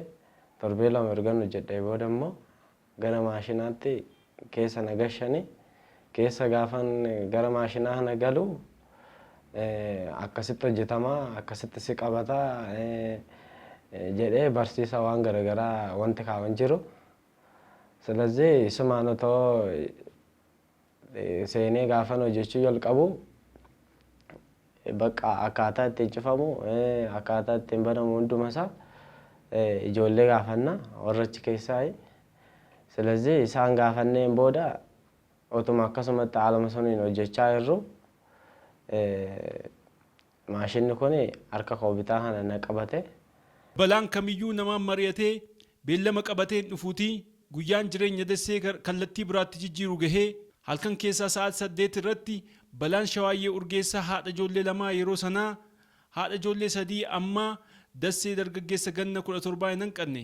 Torbee lama ergan hojjedhee booda immoo gara maashinaatti keessa na gashani. Keessa gaafan gara maashinaa kana galu akkasitti hojjetama, akkasitti si qabata jedhee barsiisa waan garagaraa wanti kaawan jiru. Silazii isumaan otoo seenee gaafan hojjechuu jalqabu bakka akkaataa ittiin cufamu akkaataa ittiin banamu hunduma isaa ijoollee gaafanna warra achi keessaayi. Silazii isaan gaafanneen booda otuma akkasumatti haaluma suniin hojjechaa jirru Maashinni kun harka koo bitaa kana na qabate. Balaan kamiyyuu namaan mari'atee beellama qabatee hin dhufuutii guyyaan jireenya Dessee gar kallattii biraatti jijjiiru gahee halkan keessaa sa'aati 8:00 irratti balaan Shawaayyee Urgeessaa haadha ijoollee lamaa yeroo sanaa haadha ijoollee sadii ammaa Dassee dargaggeessa ganna 17 hin hanqanne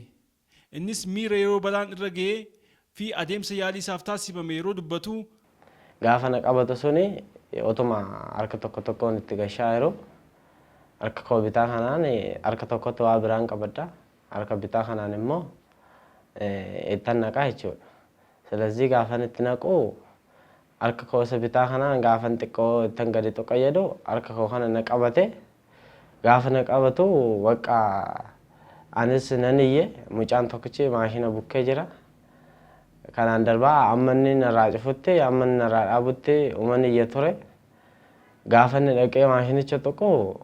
Innis miira yeroo balaan irra ga'ee fi adeemsa yaalii isaaf taasifame yeroo dubbatu. Gaafa na qabatu suni otuma harka tokko tokkoon itti gashaa jiru harka koo bitaa kanaan harka tokkotti waa biraan qabadha. Harka bitaa kanaan immoo ittan naqaa jechuudha. Silazii gaafan itti naqu Harka koo isa bitaa kana gaafan xiqqoo ittan gadi tuqa jedhu harka koo kana na qabate. Gaafa na qabatu bakka anis nan iyye mucaan tokkichi maashina bukkee jira. Kanaan darbaa amma inni narraa cufutti amma inni narraa dhaabutti uman iyya ture. Gaafa inni dhaqee maashinicha tuqu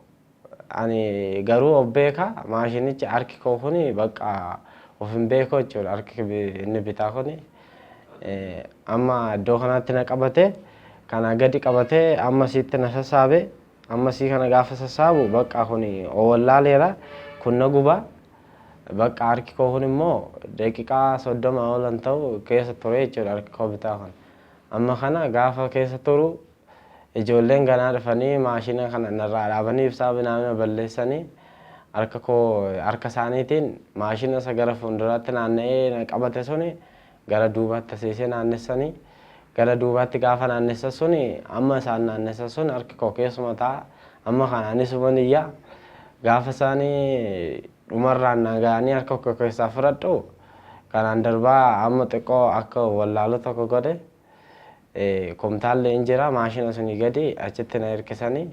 Ani garuu of beeka maashinichi harki koo kun bakka of hin beeku jechuudha harki inni bitaa kun amma iddoo kanaatti na qabate kana gadi qabate amma siitti na sassaabe amma sii kana gaafa sassaabu bakka kun owallaaleera kun na guba bakka harki koo kun immoo daqiiqaa soddoma oolan ta'u keessa ture jechuudha harki koo bitaa kun amma kana gaafa keessa turu Ijoolleen ganaa dhufanii maashina kana narraa dhaabanii ibsaa minaamina balleessanii harka koo harka isaaniitiin maashina isa gara fuulduraatti naanna'ee na qabate suni gara duubaatti taseesee naannessanii gara duubaatti gaafa naannessa suni amma isaan naannessa sun harki koo keessuma ta'a amma kana anis huban iyyaa gaafa isaanii dhumarraan na ga'anii harka koo keessaa fudhadhu kanaan darbaa amma xiqqoo akka wallaalu tokko godhe. Kumtaalli in jira maashina suni gadi achitti na hirkisani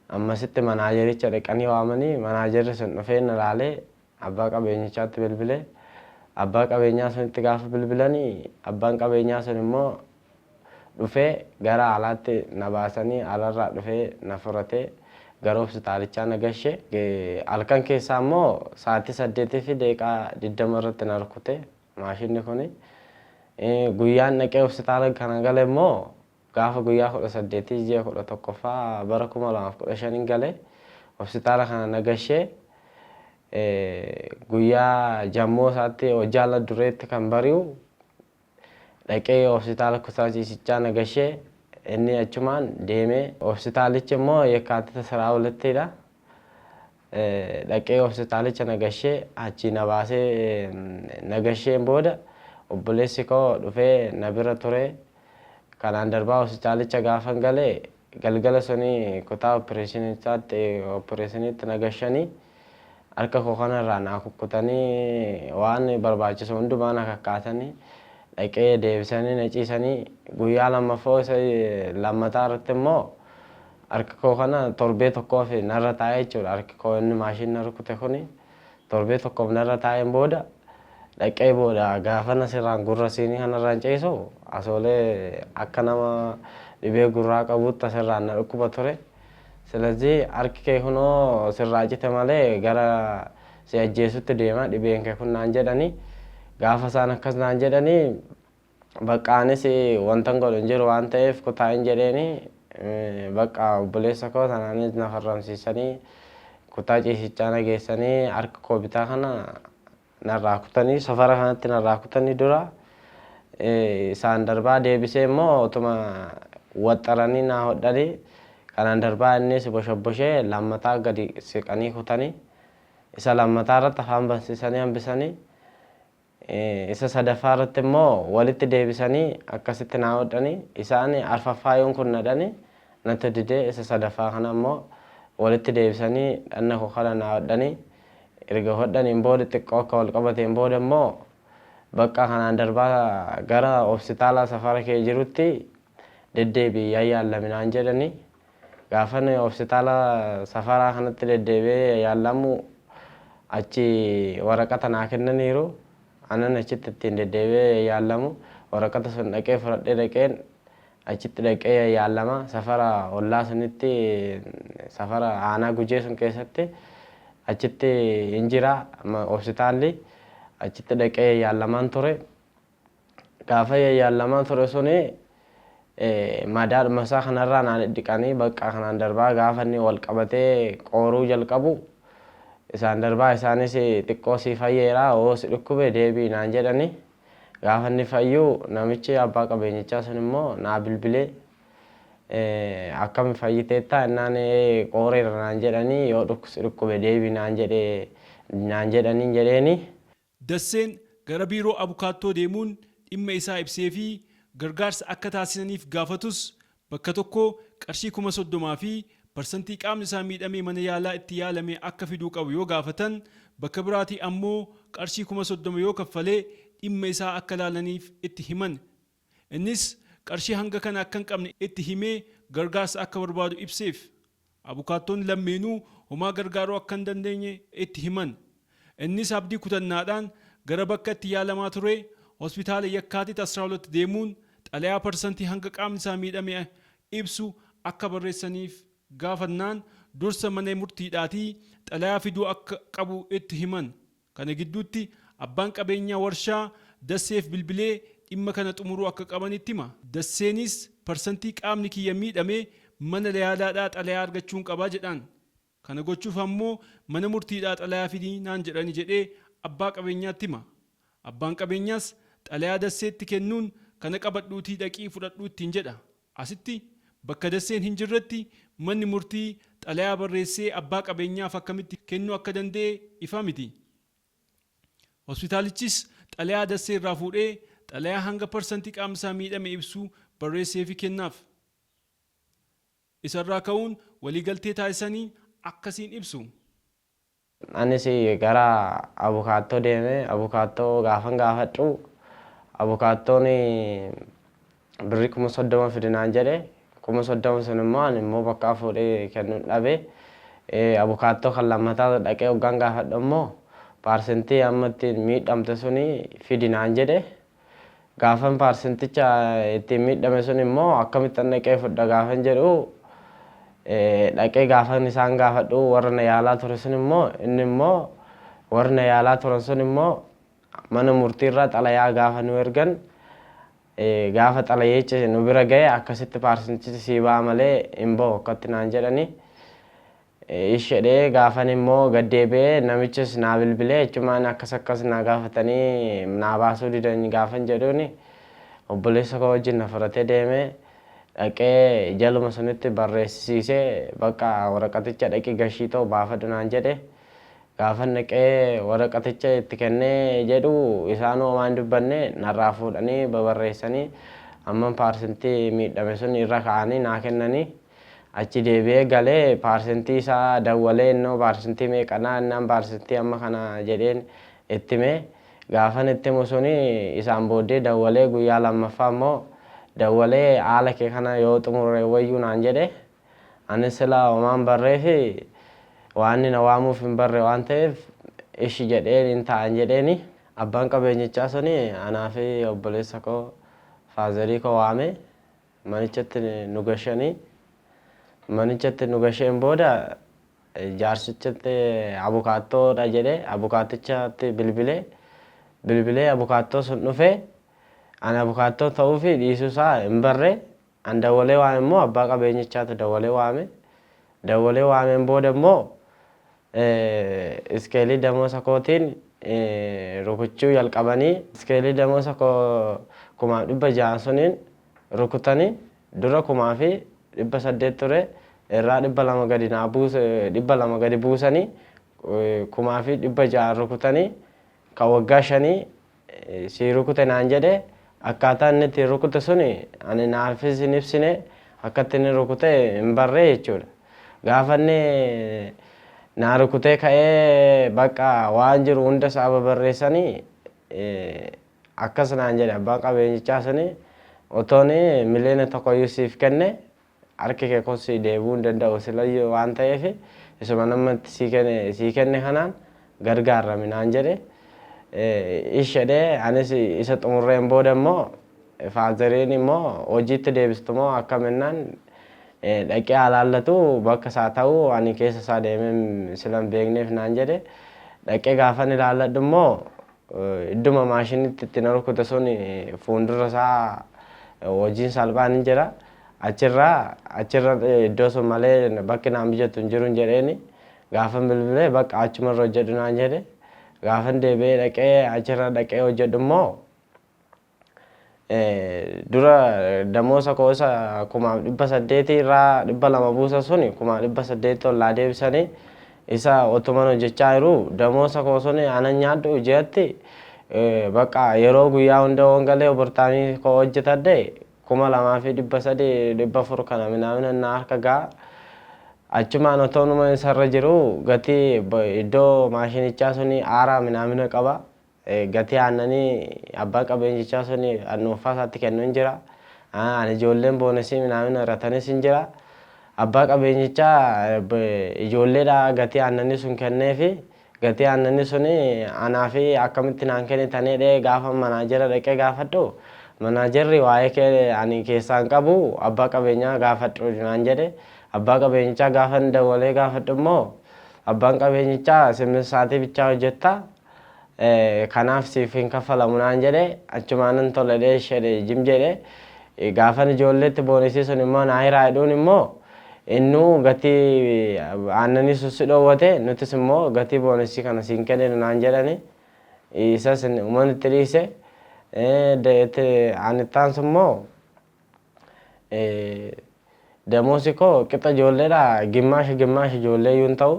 ammasitti manaajericha dhaqanii waamanii manaajerri sun dhufee na laalee abbaa qabeenyichaatti bilbile abbaa qabeenyaa sunitti gaafa bilbilani abbaan qabeenyaa sun immoo dhufee gara alaatti na baasanii alarraa dhufee na furatee gara hospitaalichaa na gashe halkan keessaa immoo sa'aatii saddeetii fi deeqaa digdama irratti na rukutee Maashinni kuni guyyaan dhaqee hospitaala kana gale immoo gaafa guyyaa 18 ji'a 11ffaa bara 2015 gale hospitaala kana na gashee guyyaa jammoo isaatti hojjaala dureetti kan bari'u dhaqee hospitaala kutaa ciisichaa na gashee inni achumaan deemee hospitaalichi immoo yakkaatita siraa walittiidha. dhaqee hospitaalicha na gashee achii na baasee na gasheen booda obboleessi koo dhufee na bira ture. Kanaan darbaa hospitaalicha gaafan gale galgala suni kutaa oppireeshinichaatti oppireeshiniitti na gashanii harka koo kanarraa naa kukkutanii waan barbaachisu hundumaa na kakkaasanii dhaqee deebisanii na ciisanii guyyaa lammaffoo isa lammataa irratti immoo Harka koo kana torbee tokkoof narra taa'e jechuudha. Harki koo inni maashiin na rukute kuni torbee tokkoof narra taa'een booda dhaqee booda gaafan asirraan gurra siinii kanarraan ciisu asoolee akka nama dhibee gurraa qabuutti asirraan na dhukkuba ture. Silazii harki kee kunoo sirraa cite malee gara si ajjeesutti deema dhibeen kee kun naan jedhanii gaafa isaan akkas naan jedhanii Baqqa anis wantan godhu hin jiru waan ta'eef kutaa hin jedheeni. Baqqa obboleessa koo sanaanis na farramsiisanii kutaa ciisichaa na geessanii harka koo bitaa kana narraa kutanii safara kanatti narraa kutanii dura isaan darbaa deebisee immoo otuma waxxaranii naa hodhanii kanaan darbaa innis boshabboshee lammataa gadi siqanii kutanii isa lammataa irratti afaan bansiisanii hambisanii Isa sadaffaa irratti immoo walitti deebisanii akkasitti naa hodhani. Isa ani arfaffaa yoon kun na dhani natti dide isa sadaffaa kana immoo walitti deebisanii dhanna koo kana naa hodhani. Erga hodhaniin booda xiqqoo akka wal qabateen booda immoo bakka kanaan darbaa gara hopsitaalaa safara kee jirutti deddeebi'i yaa yaallami naan jedhani. Gaafan hospitaala Safaraa kanatti deddeebi'ee yaallamu achi waraqata naa kennaniiru. Anan achitti ittiin deddeebi'ee yaallamu waraqata sun dhaqee fudhadhee dhaqeen achitti dhaqee yaallama. Safara ollaa sunitti safara aanaa gujee sun keessatti achitti hin jira hospitaalli achitti dhaqee yaallamaan ture. Gaafa yaayyaalamaa ture suni madaadhuma isaa kanarraa naa dhidhiqanii baqqaa kanaan darbaa gaafa inni wal qabatee qooruu jalqabu isaan darbaa isaanis xiqqoo sii fayyeera hoo si dhukkube deebi'i naan jedhani gaafa inni fayyu namichi abbaa qabeenyichaa sun immoo naa bilbilee akkami fayyiteetta innaan qooreera naan jedhanii yoo si dhukkube deebi'i naan jedhe naan jedhaniin jedheeni. Dasseen gara biiroo abukaattoo deemuun dhimma isaa ibseefii gargaarsa akka taasisaniif gaafatus bakka tokkoo qarshii kuma 30 fi parsantii qaamni isaa miidhamee mana yaalaa itti yaalame akka fiduu qabu yoo gaafatan bakka biraatii ammoo qarshii kuma 30 yoo kaffale dhimma isaa akka laalaniif itti himan Innis qarshii hanga kana akka hin qabne itti himee gargaarsa akka barbaadu ibseef. Abukaattoon lammeenuu homaa gargaaruu akka hin dandeenye itti himan. Innis abdii kutannaadhaan gara bakka itti yaalamaa turee Hospitaala Yakkaatit 12 deemuun xalayaa parsantii hanga qaamni isaa miidhame ibsu akka barreessaniif gaafannaan dursa mana murtiidhaatii xalayaa fiduu akka qabu itti himan. Kana gidduutti abbaan qabeenyaa warshaa Dasseef bilbilee dhimma kana xumuruu akka qaban itti hima. Dasseenis parsantii qaamni kiyya miidhame mana yaalaadhaa xalayaa argachuun qaba jedhaan. Kana gochuuf ammoo mana murtiidhaa xalayaa fidi naan jedhani jedhee abbaa qabeenyaatti hima. Abbaan qabeenyaas xalayaa Dasseetti kennuun kana qabadhuutii dhaqii fudhadhu ittiin jedha. Asitti, bakka dasseen hin jirretti manni murtii xalayaa barreessee abbaa qabeenyaaf akkamitti kennuu akka danda'e ifa miti. Hospitaalichis xalayaa dassee irraa fuudhee xalayaa hanga parsantii qaamni isaa miidhame ibsu barreesseefii kennaaf. Isa irraa ka'uun waliigaltee taasisanii akkasiin ibsu. Anis gara abukaattoo deeme. Abukaattoo gaafan gaafadhu abukaattoon birrii kuma soddoma fidi naan jedhe. Kuma soddoma sun immoo ani immoo bakkaa fuudhee kennun dhabe. Abukaattoo kan lammataa dhaqee hoggaan gaafadhu immoo paarsentii amma ittiin miidhamte suni fidi naan jedhe. Gaafan paarsenticha ittiin miidhame sun immoo akkamittan dhaqee fudha gaafan jedhu dhaqee gaafan isaan gaafadhu warra na yaalaa ture sun immoo inni immoo warri na yaalaa turan sun immoo mana murtiirraa xalayaa gaafa nu ergan gaafa xalayichi nu bira ga'e akkasitti paarsentichi sii ba'a malee hin ba'u akkatti naan jedhani ish jedhee gaafan immoo gad deebi'ee namichis naa bilbilee achumaan akkas akkas naa gaafatanii naa baasuu didan gaafan jedhuun obboleessa koo wajjin na fudhatee deeme dhaqee jaluma sunitti barreessisiisee bakka waraqaticha dhaqi gashii ta'u baafadhu naan jedhe gaafan dhaqee waraqaticha itti kennee jedhu isaanuu homaa hin dubbanne narraa fuudhanii babarreessanii amman paarsentii miidhame sun irra ka'anii naa kennanii Achi deebi'ee galee paarsentii isaa dawwalee innoo paarsentii meeqanaa innaan paarsentii amma kana jedheen itti hime. Gaafan itti himu suni isaan booddee dawwalee guyyaa lammaffaa immoo dawwalee haala kee kana yoo xumurre wayyuu naan jedhe. Anis silaa homaan barreefi waanni na waamuuf hin barre waan ta'eef ishi jedheen hin taa'an jedheeni. Abbaan qabeenyichaa suni anaa fi obboleessa koo faazarii koo waame. manichatti nu gashanii manichatti nu gasheen booda jaarsichatti abukaattoodha jedhe abukaattichatti bilbile bilbilee abukaattoo sun dhufee ani abukaattoo ta'uu fi dhiisuu isaa hin barre an dawwalee waame immoo abbaa qabeenyichaatu dawwalee waame dawwalee waameen booda immoo Iskeelii damoosa kootiin rukuchuu jalqabanii. Iskeelii damoosa koo kumaaf dhibba ja'aan suniin rukutani. Dura kumaa fi dhibba saddeet ture. Irraa dhibba lama gadi naa buuse dhibba lama gadi buusani. Kumaa fi dhibba ja'aan rukutani. Kan waggaa shanii si rukute naan jedhe akkaataa inni itti rukute suni ani naafis hin ibsine akkatti inni rukute hin barre jechuudha gaafa inni naa rukutee ka'ee bakka waan jiru hunda isaa babarreessanii akkas naan jedhe abbaan qabeenyichaa suni otoon miliyoona tokkoyyuu siif kenne Harki kee kun sii deebi'uu hin danda'u silayyuu waan ta'eef isuma ani amma itti sii kenne kanaan gargaarrami naan jedhe. Ishi jedhee anis isa xumurreen booda immoo faazariin immoo hojiitti deebistu moo akkam jennaan dhaqee haa laallatu bakka isaa ta'u ani keessa isaa deemee silan beekneef naan jedhe. Dhaqee gaafan ilaalladhu immoo Idduma maashinitti itti na rukuta sun fuuldura isaa hojiin salphaan hin jira. Achirra achirra iddoo sun malee bakki naan mijatu hin jiru jedheeni gaafan bilbilee bakka achumarra hojjedhu naan jedhe. Gaafan deebi'ee dhaqee achirra dhaqee hojjedhu immoo dura damoosa koo isa kumaaf dhibba saddeetii irraa dhibba lama buusa suni kumaaf dhibba saddeetti ol naa deebisanii isa otuman hojjechaa jiru damoosa koo suni anan nyaadhu ji'atti bakka yeroo guyyaa hunda waan galee obortaamii koo hojjetadhe kuma lamaa fi dhibba sadii dhibba afur kana minaamina naa harka ga'a. Achumaan otoo numa isarra jiru gatii iddoo maashinichaa suni aaraa minaamina qaba. Gatii aannanii abbaan qabeenyichaa sun dhuunfaa isaatti kennu hin jira. Ijoolleen boonesii minaamin horatanis hin jira. Abbaa qabeenyichaa ijoolleedha gatii aannanii sun kenneefi gatii aannanii sun anaafi akkamitti naan kennitan jedhee gaafa manaajera dhaqee gaafadhu manaajerri waa'ee kee ani keessaa hin qabu abbaa qabeenyaa gaafadhu naan jedhe abbaa qabeenyichaa gaafa hin dawwalee gaafadhu immoo abbaan qabeenyichaa simmin saatii bichaa hojjetta kanaaf siif hin kaffalamu naan jedhe achumaanan tole dheeshedhe jim jedhe gaafan ijoolleetti boonisii sun immoo naa hiraa jedhuun immoo innuu gatii aannanii sun si dhoowwate nutis immoo gatii boonisii kana siin kenninu naan jedhani isas uman itti dhiise anittaan sun immoo Damoosi koo qixa ijoolleedhaa gimmaasha gimmaasha ijoollee iyyuu hin ta'u.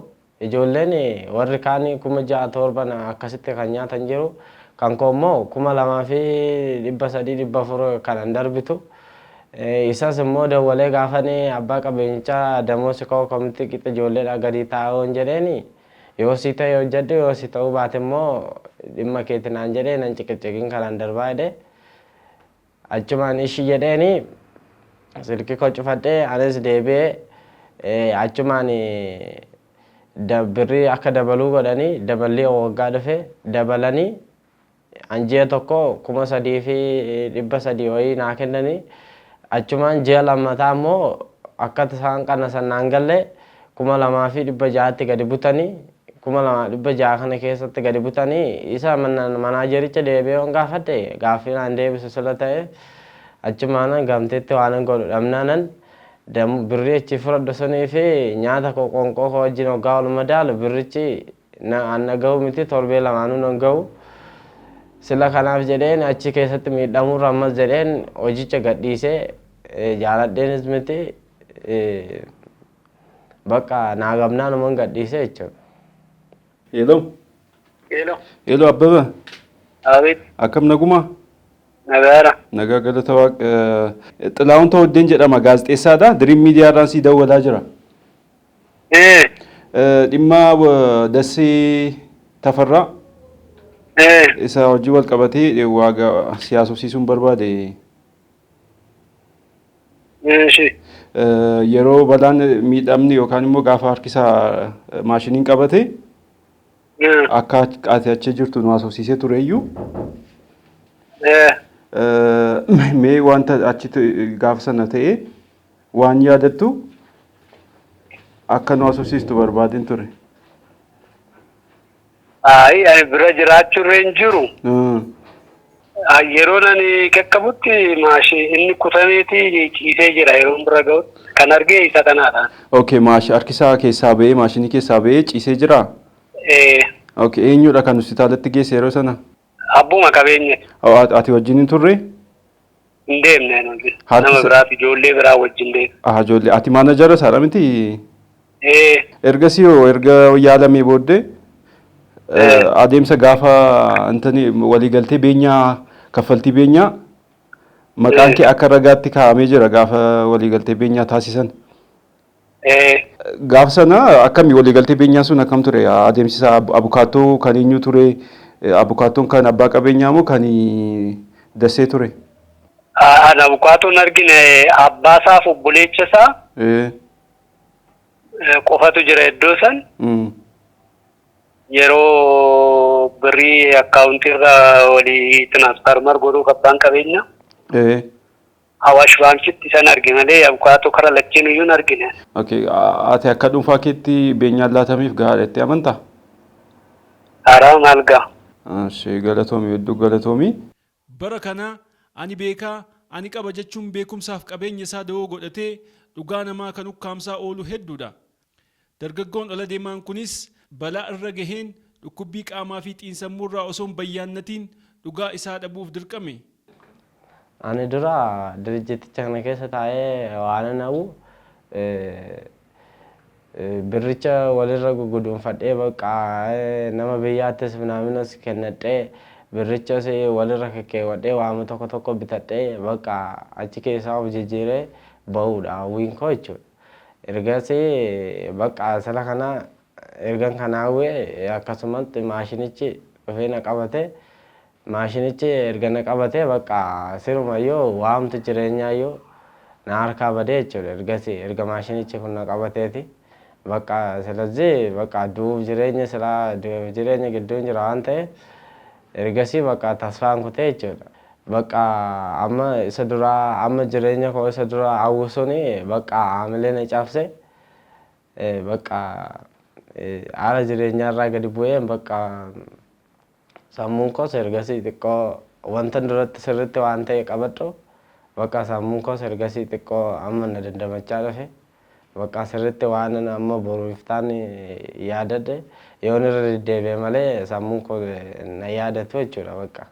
Ijoolleen warri kaan kuma ja'a torban akkasitti kan nyaatan jiru. Kan koo immoo kuma lamaa fi dhibba sadii dhibba afur kanan darbitu. Isas immoo dawwalee gaafan abbaa qabeenyichaa damoosi koo akkamitti qixa ijoolleedhaa gadii ta'a yoon jedheen yoo sii ta'e hojjedhu yoo si ta'uu baate immoo dhimma keeti naan jedhee nan ciqiciqin kanan darbaa jedhe. Achumaan ishi jedheeni silki koo cufadhe anis deebi'e achumaan birrii akka dabaluu godhani daballii waggaa dhufe dabalani an ji'a tokko kuma sadii fi dhibba sadii wayii naa kennani achumaan ji'a lammataa immoo akka isaan qannasan naan galle kuma lamaa fi dhibba ja'atti gadi butani. kuma lamaa dhibba ja'a kana keessatti gadi butani. Isa manaajericha deebi'ee waan gaafadhe gaaffii naan deebisu sila ta'e achumaanan gamteetti waanan godhu dhabnaanan birrii achi fudhadhu sunii fi nyaata koo qoonqoo koo wajjin hoggaa wal madaalu birrichi an na gahu miti torbee lamaanuu nan gahu. Sila kanaaf jedheen achi keessatti miidhamuurra ammas jedheen hojicha gadhiisee jaaladheenis miti Bakka naa gamnaan uman gadhiise jechuudha. Hello. Hello. Hello Abbaba. Abid. Akkam nagumaa? Nagaara. Nagaa galata waaq. Xilaawun Tawaddeen jedhama gaazexeessaadha. Diriim miidiyaa irraan sii dawwalaa jira. Ee. Dhimma Dassee Tafarraa Ee. isa hojii wal qabatee waaga siyaasofsiisuun barbaade. Eeshi. Eh, Yeroo balaan miidhamni yookaan immoo gaafa harkisaa eh, maashiniin qabate Eh. akka ach- ati achi jirtu nu haasofsiisee tureyyuu Eh. eh, mee wanta achitti gaafa sana ta'e waan yaadattu akka nu haasofsiistu barbaadeen ture. Ayi ani bira jiraachurra hin jiru. Mm. Ah, Yeroon ani qaqqabutti maashii inni kutameeti ciisee jira yeroon bira ga'utti. Kan argee isa kanaadha. Okay, maash harkisaa keessaa ba'ee maashinii keessaa ba'ee ciisee jiraa? Eh, Okay, eenyudha kan hospitaalatti geesse yeroo sana? Abbuma qabeenya. Ati wajjin hin turre? Hin deemne nuti. Nama biraaf ijoollee biraa wajjin deemne. Aha ijoollee ati maanajara isaadha miti? Ergasii hoo erga yaalamee booddee adeemsa gaafa intani waliigaltee beenyaa kaffaltii beenyaa maqaan kee akka ragaatti kaa'amee jira gaafa waliigaltee beenyaa taasisan. Gaaf sana akkami waliigaltee beenyaa sun akkam ture adeemsisa abukaattoo kan eenyu ture abukaattoon kan abbaa qabeenyaa moo kan dassee ture? Ana abukaattoon argine abbaa isaaf obboleecha isaa qofatu jira iddoo san. Yeroo birrii akkaawuntii irra walii tiraansfaarmar godhuuf abbaan qabeenyaa. Awaash Baankitti isan arge malee abukaatoo kara lacheenuyyuu hin argine. Ok, ati akka dhuunfaa keetti beenyaan laatameef gahaadha jettee amantaa? Haaraa maal gaha? Ishee galatoomi hedduu galatoomi. Bara kana ani beeka, ani qaba jechuun beekumsaaf qabeenya isaa dawoo godhatee dhugaa namaa kan ukkaamsaa oolu hedduudha. Dargaggoon ala demaan kunis balaa irra gaheen dhukkubbii qaamaa fi xiinsammuu irraa osoo hin bayyaannatiin dhugaa isaa dhabuuf dirqame. Ani dura dirijjiticha kana keessa taa'ee waanan hawwu birricha walirra gugguduunfadhee bakka nama biyyaattis minaaminus kennadhee birrichas walirra kekkeewwadhee waama tokko tokko bitadhee bakka achi keessaa of jijjiiree bahuudha hawwiin koo jechuudha. Ergasii bakka sila kana ergan kana hawwe akkasumatti maashinichi dhufee na qabate. Maashinichi erga na qabatee bakka sirumayyuu waamtu jireenyaayyuu na harkaa badee jechuudha. Ergasii erga maashinichi kun na qabateeti. Bakka silazii bakka du'uuf jireenya silaa du'eef jireenya gidduun jira waan ta'eef Ergasii baqaa tasfaan kutee jechuudha. Baqaa amma isa duraa amma jireenya koo isa duraa hawwu suni baqaa haamilee na cabse. Baqaa haala jireenyaa irraa gadi bu'een baqaa sammuun koos ergasii xiqqoo wantan duratti sirriitti waan ta'e qabadhu baqaa sammuun koos ergasii xiqqoo amma na dandamachaa dhufe. Baqqaa sirriitti waanan amma boru iftaan yaadadhe yoon irra deddeebi'e malee sammuun koo na yaadatu jechuudha bakka.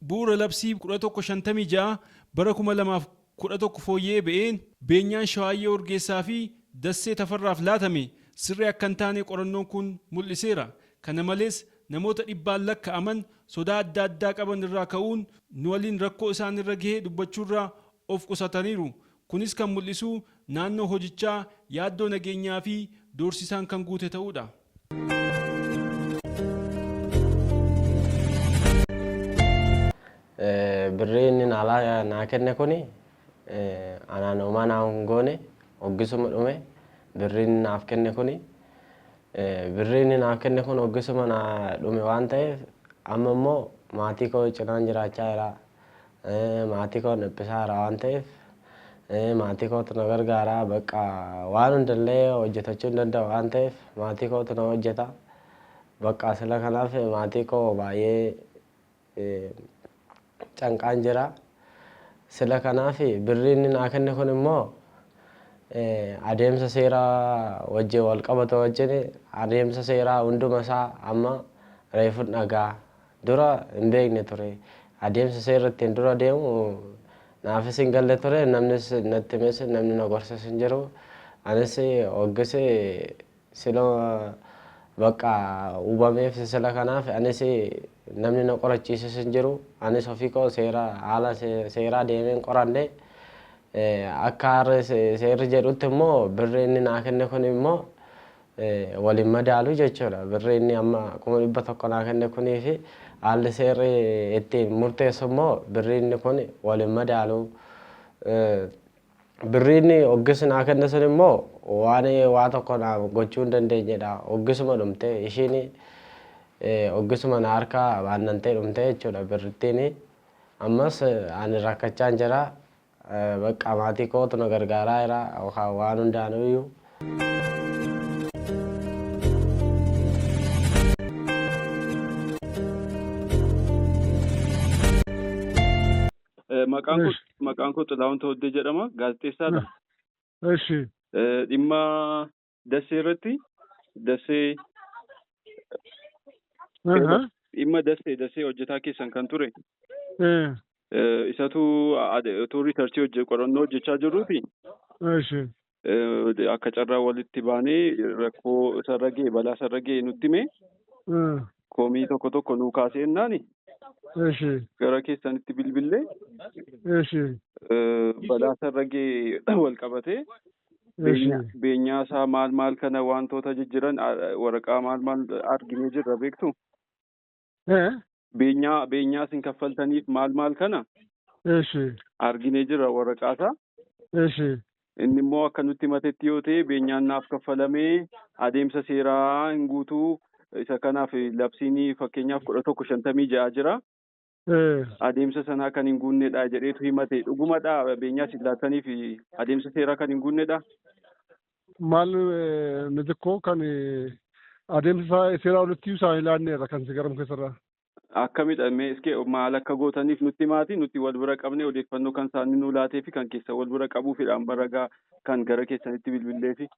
Bu'uura Labsii 1156 bara 2011 fooyya'ee ba'een beenyaan Shawaayyee Urgeessaa fi Dassee Tafarraaf laatame sirrii akka hin taane qorannoon kun mul'iseera. Kana malees namoota dhibbaan lakka'aman sodaa adda addaa qaban irraa ka'uun nu waliin rakkoo isaan irra gahe dubbachuurraa of qusataniiru. Kunis kan mul'isu naannoo hojichaa yaaddoo nageenyaa fi doorsisaan kan guute ta'uu dha. Birrii inni naalaa naa kenne kuni anaan homaa naa hin goone hoggisuma dhume birrii inni naaf kenne kuni birrii inni naaf kenne kun hoggisuma naa dhume waan ta'eef amma immoo maatii koo cinaan jiraachaa jira Maatii koo dhiphisaa jira waan ta'eef maatii kootu na gargaara. Bakka waan hundallee hojjetachuu hin danda'u waan ta'eef maatii kootu na hojjeta. Bakka sila kanaaf maatii koo baay'ee canqaan jira. Sila kanaaf birri inni naa kenne kun immoo adeemsa seeraa wajjin wal qabatu wajjin adeemsa seeraa hunduma isaa amma reefun dhagaa. Dura hin beekne ture. Adeemsa seerrittiin dura deemu naafis hin galle ture. Namnis natti himes namni na gorses hin jiru. Anis hoggis sila bakka hubameef sila kanaaf anis namni na qorachiises hin jiru. Anis ofii koo seera haala seeraa deemeen qoradhe. Akka har'a seerri jedhutti immoo birri inni naa kenne kun immoo wal hin madaalu jechuudha. Birri inni amma 100,000 naa kenne kunii fi haalli seerri ittiin murteessu immoo birri inni kun wal hin madaalu. Birri inni oggisi naa kenne sun immoo waan waa tokko naaf gochuu hin dandeenyedha. Oggisuma dhumte ishiin oggisuma na harkaa baannantee dhumte jechuudha birrittiin. Ammas ani rakkachaan jira. Baqqaa maatii kootu na gargaaraa jira yookaan waan hundaanuyyuu. Eh, Maqaan koo Eesh. maqaan koo Xilaahun Tawuddee jedhama. Gaazexeessaadha. Eshi. Eh, Dhimma Dassee irratti Dassee Aha. dhimma Dassee Dassee hojjetaa keessan kan ture Eh, eh, isatu ade- utuu riisarchii hojje qorannoo hojjechaa jirruuti Eshi. eh, akka carraa walitti baanee rakkoo isarra ga'e balaa isarra ga'e nutti hime Eh, komii tokko tokko nuu kaasee ennaani Eshi. gara keessanitti bilbillee Eshi. eh, balaa isarra ga'e wal qabatee Eshi. Beenyaa beenyaa isaa maal maal kana wantoota jijjiran a- waraqaa maal maal arginee jirra beektu Eh. beenyaa beenyaa isin kaffaltaniif maal maal kana Eshi. arginee jirra waraqaa isaa Eshi. inni immoo akka nutti himatetti yoo ta'e beenyaan naaf kaffalamee adeemsa seeraa hin guutuu isa kanaaf labsiin fakkeenyaaf kudha tokko shantamii ja'a jira adeemsa sanaa kan hin guunnedha jedheetu himate. Dhugumadha beenyaa isin laattaniif adeemsa seeraa kan hin guunnedha. Maal mitikkoo kan adeemsa isaa seeraa olitti isaa hin laanneerra kan si garam keessarraa. Akkamidha mee iske maal akka gootaniif nutti himaati nuti wal bira qabne odeeffannoo kan isaanii nuu laatee fi kan keessa wal bira qabuufidhaan baragaa kan gara keessanitti bilbilleefi.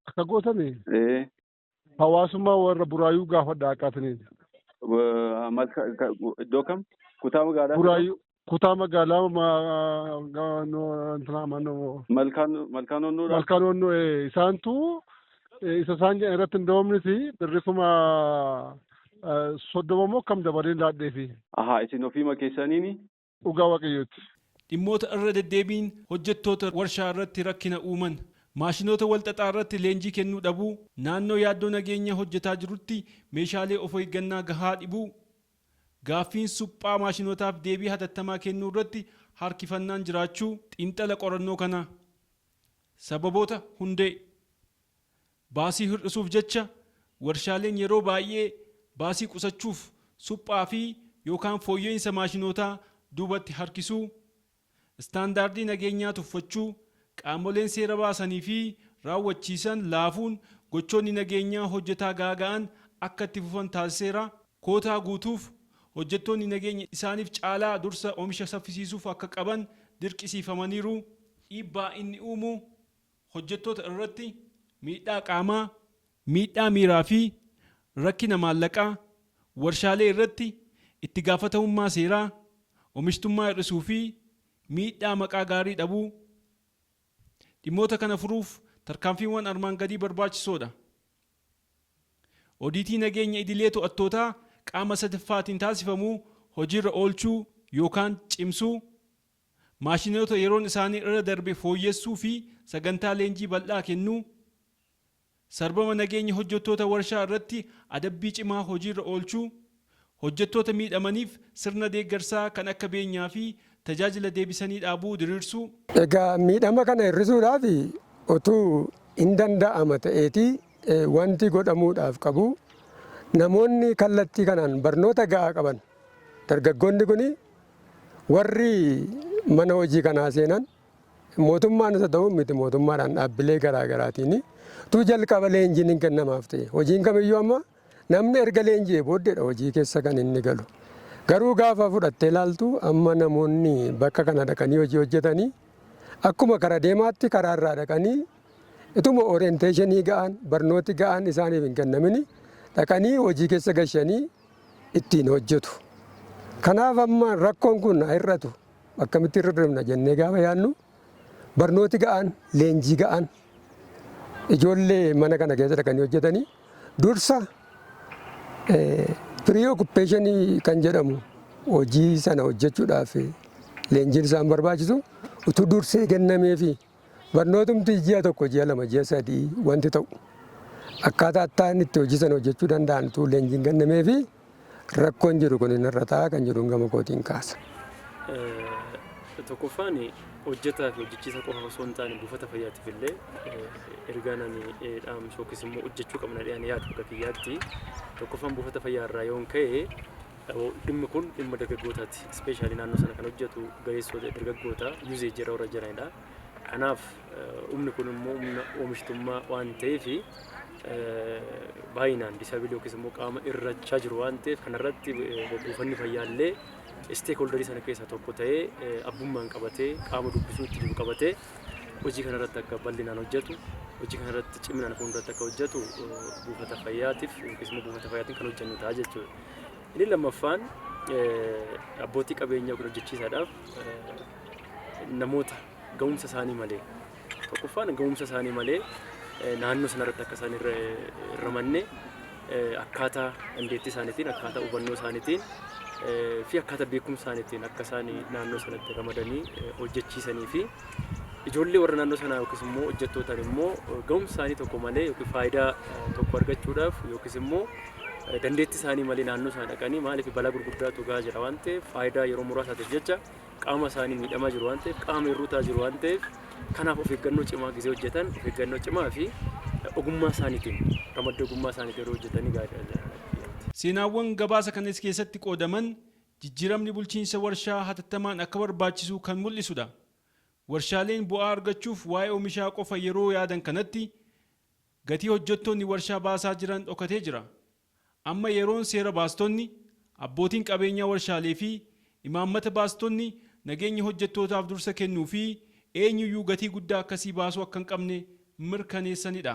Akka gootani Ee, Hawaasummaa warra Buraayuu gaafadha akka atiniin. Wa- mal- ka- ka- Iddoo kam? Kutaa magaalaa kam? Buraayuu kutaa magaalaa ma- ga- no- intinaa mannoo Malkaan malkaan onnuudha. malkaan onnoo eh, isaantu eh, isa isaan jedhan irratti hin doomnisi birri kuma eh, soddoma moo kam dabaleen laadheefi. Ahaa isin ofiima keessaniini dhugaa Waaqayyooti. Dhimmoota irra deddeebiin hojjettoota warshaa irratti rakkina uuman, maashinoota wal xaxaa irratti leenjii kennuu dhabuu, naannoo yaaddoo nageenya hojjetaa jirutti meeshaalee of eeggannaa gahaa dhibuu, gaaffiin suphaa maashinootaaf deebii hatattamaa kennuu irratti harkifannaan jiraachuu xiinxala qorannoo kanaa. Sababoota hundee. Baasii hir'isuuf jecha warshaaleen yeroo baay'ee baasii qusachuuf suphaa fi yookaan fooyya'iinsa maashinootaa duubatti harkisuu, istaandaardii nageenyaa tuffachuu, qaamoleen seera baasanii fi raawwachiisan laafuun gochoonni nageenyaa hojjetaa gaaga'an akka itti fufan taasiseera. Kootaa guutuuf, hojjettoonni nageenya isaaniif caalaa dursa omisha saffisiisuuf akka qaban dirqisiifamaniiru. Dhiibbaa inni uumu, hojjettoota irratti miidhaa qaamaa, miidhaa miiraa fi rakkina maallaqaa, warshaalee irratti itti gaafatamummaa seeraa, omishtummaa hir'isuu fi miidhaa maqaa gaarii dhabuu. Dhimmoota kana furuuf tarkaanfiiwwan armaan gadii barbaachisoo dha. Odiitii nageenya idilee to'attootaa qaama sadaffaatiin taasifamu hojiirra oolchuu yookaan cimsuu. maashinoota yeroon isaanii irra darbe fooyyessuu fi sagantaa leenjii bal'aa kennuu, sarbama nageenya hojjettoota warshaa irratti adabbii cimaa hojiirra oolchuu, hojjettoota miidhamaniif sirna deeggarsaa kan akka beenyaa fi tajaajila deebisanii dhaabuu diriirsuu. Egaa miidhama kana hir'isuudhaaf otuu in danda'ama ta'eetii wanti godhamuudhaaf qabu namoonni kallattii kanaan barnoota ga'aa qaban dargaggoonni kun Warri mana hojii kanaa seenan mootummaan isa ta'uun miti mootummaadhaan dhaabbilee garaa garaatiin tu jalqaba leenjiin hin kennamaaf ta'e. Hojiin kamiyyuu amma namni erga leenji'ee booddeedha hojii keessa kan inni galu. Garuu gaafa fudhattee ilaaltu amma namoonni bakka kana dhaqanii hojii hojjetanii akkuma kara deemaatti karaa irraa dhaqanii ituma orienteeshinii ga'aan barnooti ga'aan isaaniif hin kennamini dhaqanii hojii keessa gashanii ittiin hojjetu. Kanaaf amma rakkoon kun haa hir'atu akkamitti irra deemna jennee gaafa yaadnu barnooti ga'aan, leenjii ga'aan ijoollee mana kana keessa dhaqanii hojjetanii dursa firii okuppeeshinii kan jedhamu hojii sana hojjechuudhaaf leenjiin isaan barbaachisu utuu dursee kennameefi. Barnootumti ji'a tokko, ji'a lama, ji'a sadii wanti ta'u akkaataa attaan itti hojii sana hojjechuu danda'an utuu leenjiin hin kennameefi rakkoon jiru kun hin irra ta'a kan jedhuun gama kootiin kaasa. Tokkoffaan hojjetaa fi hojjechiisa qofa osoo hin taane buufata fayyaatiif illee ergaan ani dhaamsu yookiis immoo hojjechuu qabna jedhee ani yaadu akka kiyyaatti tokkoffaan buufata fayyaa irraa yoon ka'e Dhimmi kun dhimma dargaggootaati. Ispeeshaalii naannoo sana kan hojjetu ga'eessota dargaggoota yuuzee jira warra jiranidha. Kanaaf humni kun immoo humna oomishtummaa waan ta'eef baay'inaan disaabilii yookiis immoo qaama irrachaa jiru waan ta'eef kanarratti buufanni fayyaallee isteek hooldarii sana keessaa tokko ta'ee abbummaan qabatee qaama dubbisuu itti jiru qabatee hojii kanarratti akka bal'inaan hojjetu hojii kanarratti ciminaan fuulduratti akka hojjetu buufata fayyaatiif yookiis immoo buufata fayyaatiin kan hojjennu ta'a jechuudha. Inni lammaffaan abbootii qabeenyaa yookiin hojjechiisaadhaaf namoota ga'umsa isaanii malee tokkoffaan ga'umsa isaanii malee naannoo sanarratti akka isaan irra ramanne akkaataa dandeettii isaaniitiin akkaataa hubannoo isaaniitiin fi akkaataa beekumsa isaaniitiin akka isaan naannoo sanatti ramadanii hojjechiisanii fi ijoollee warra naannoo sanaa yookiis immoo hojjettootaan immoo ga'umsa isaanii tokko malee yookiin faayidaa tokko argachuudhaaf yookiis immoo dandeettii isaanii malee naannoo sana dhaqanii maaliif balaa gurguddaatu gahaa jira waan ta'eef faayidaa yeroo muraasaatiif jecha qaama isaanii miidhamaa jiru waan ta'eef qaama hir'uutaa jiru waan ta'eef kanaaf of eeggannoo cimaa gisee hojjetan of eeggannoo cimaa fi ogummaa isaaniitiin ramaddii ogummaa isaaniitiin yeroo hojjetanii gaariidha jedhan. Seenaawwan gabaasa kanas keessatti qoodaman jijjiiramni bulchiinsa warshaa hatattamaan akka barbaachisu kan mul'isudha. Warshaaleen bu'aa argachuuf waa'ee omishaa qofa yeroo yaadan kanatti, Gatii hojjettoonni warshaa baasaa jiran dhokatee jira. Amma yeroon seera baastonni, abbootiin qabeenyaa warshaalee fi imaammata baastonni nageenya hojjettootaaf dursa kennuu fi eenyuyyuu gatii guddaa akkasii baasuu akka hin qabne mirkaneessanidha.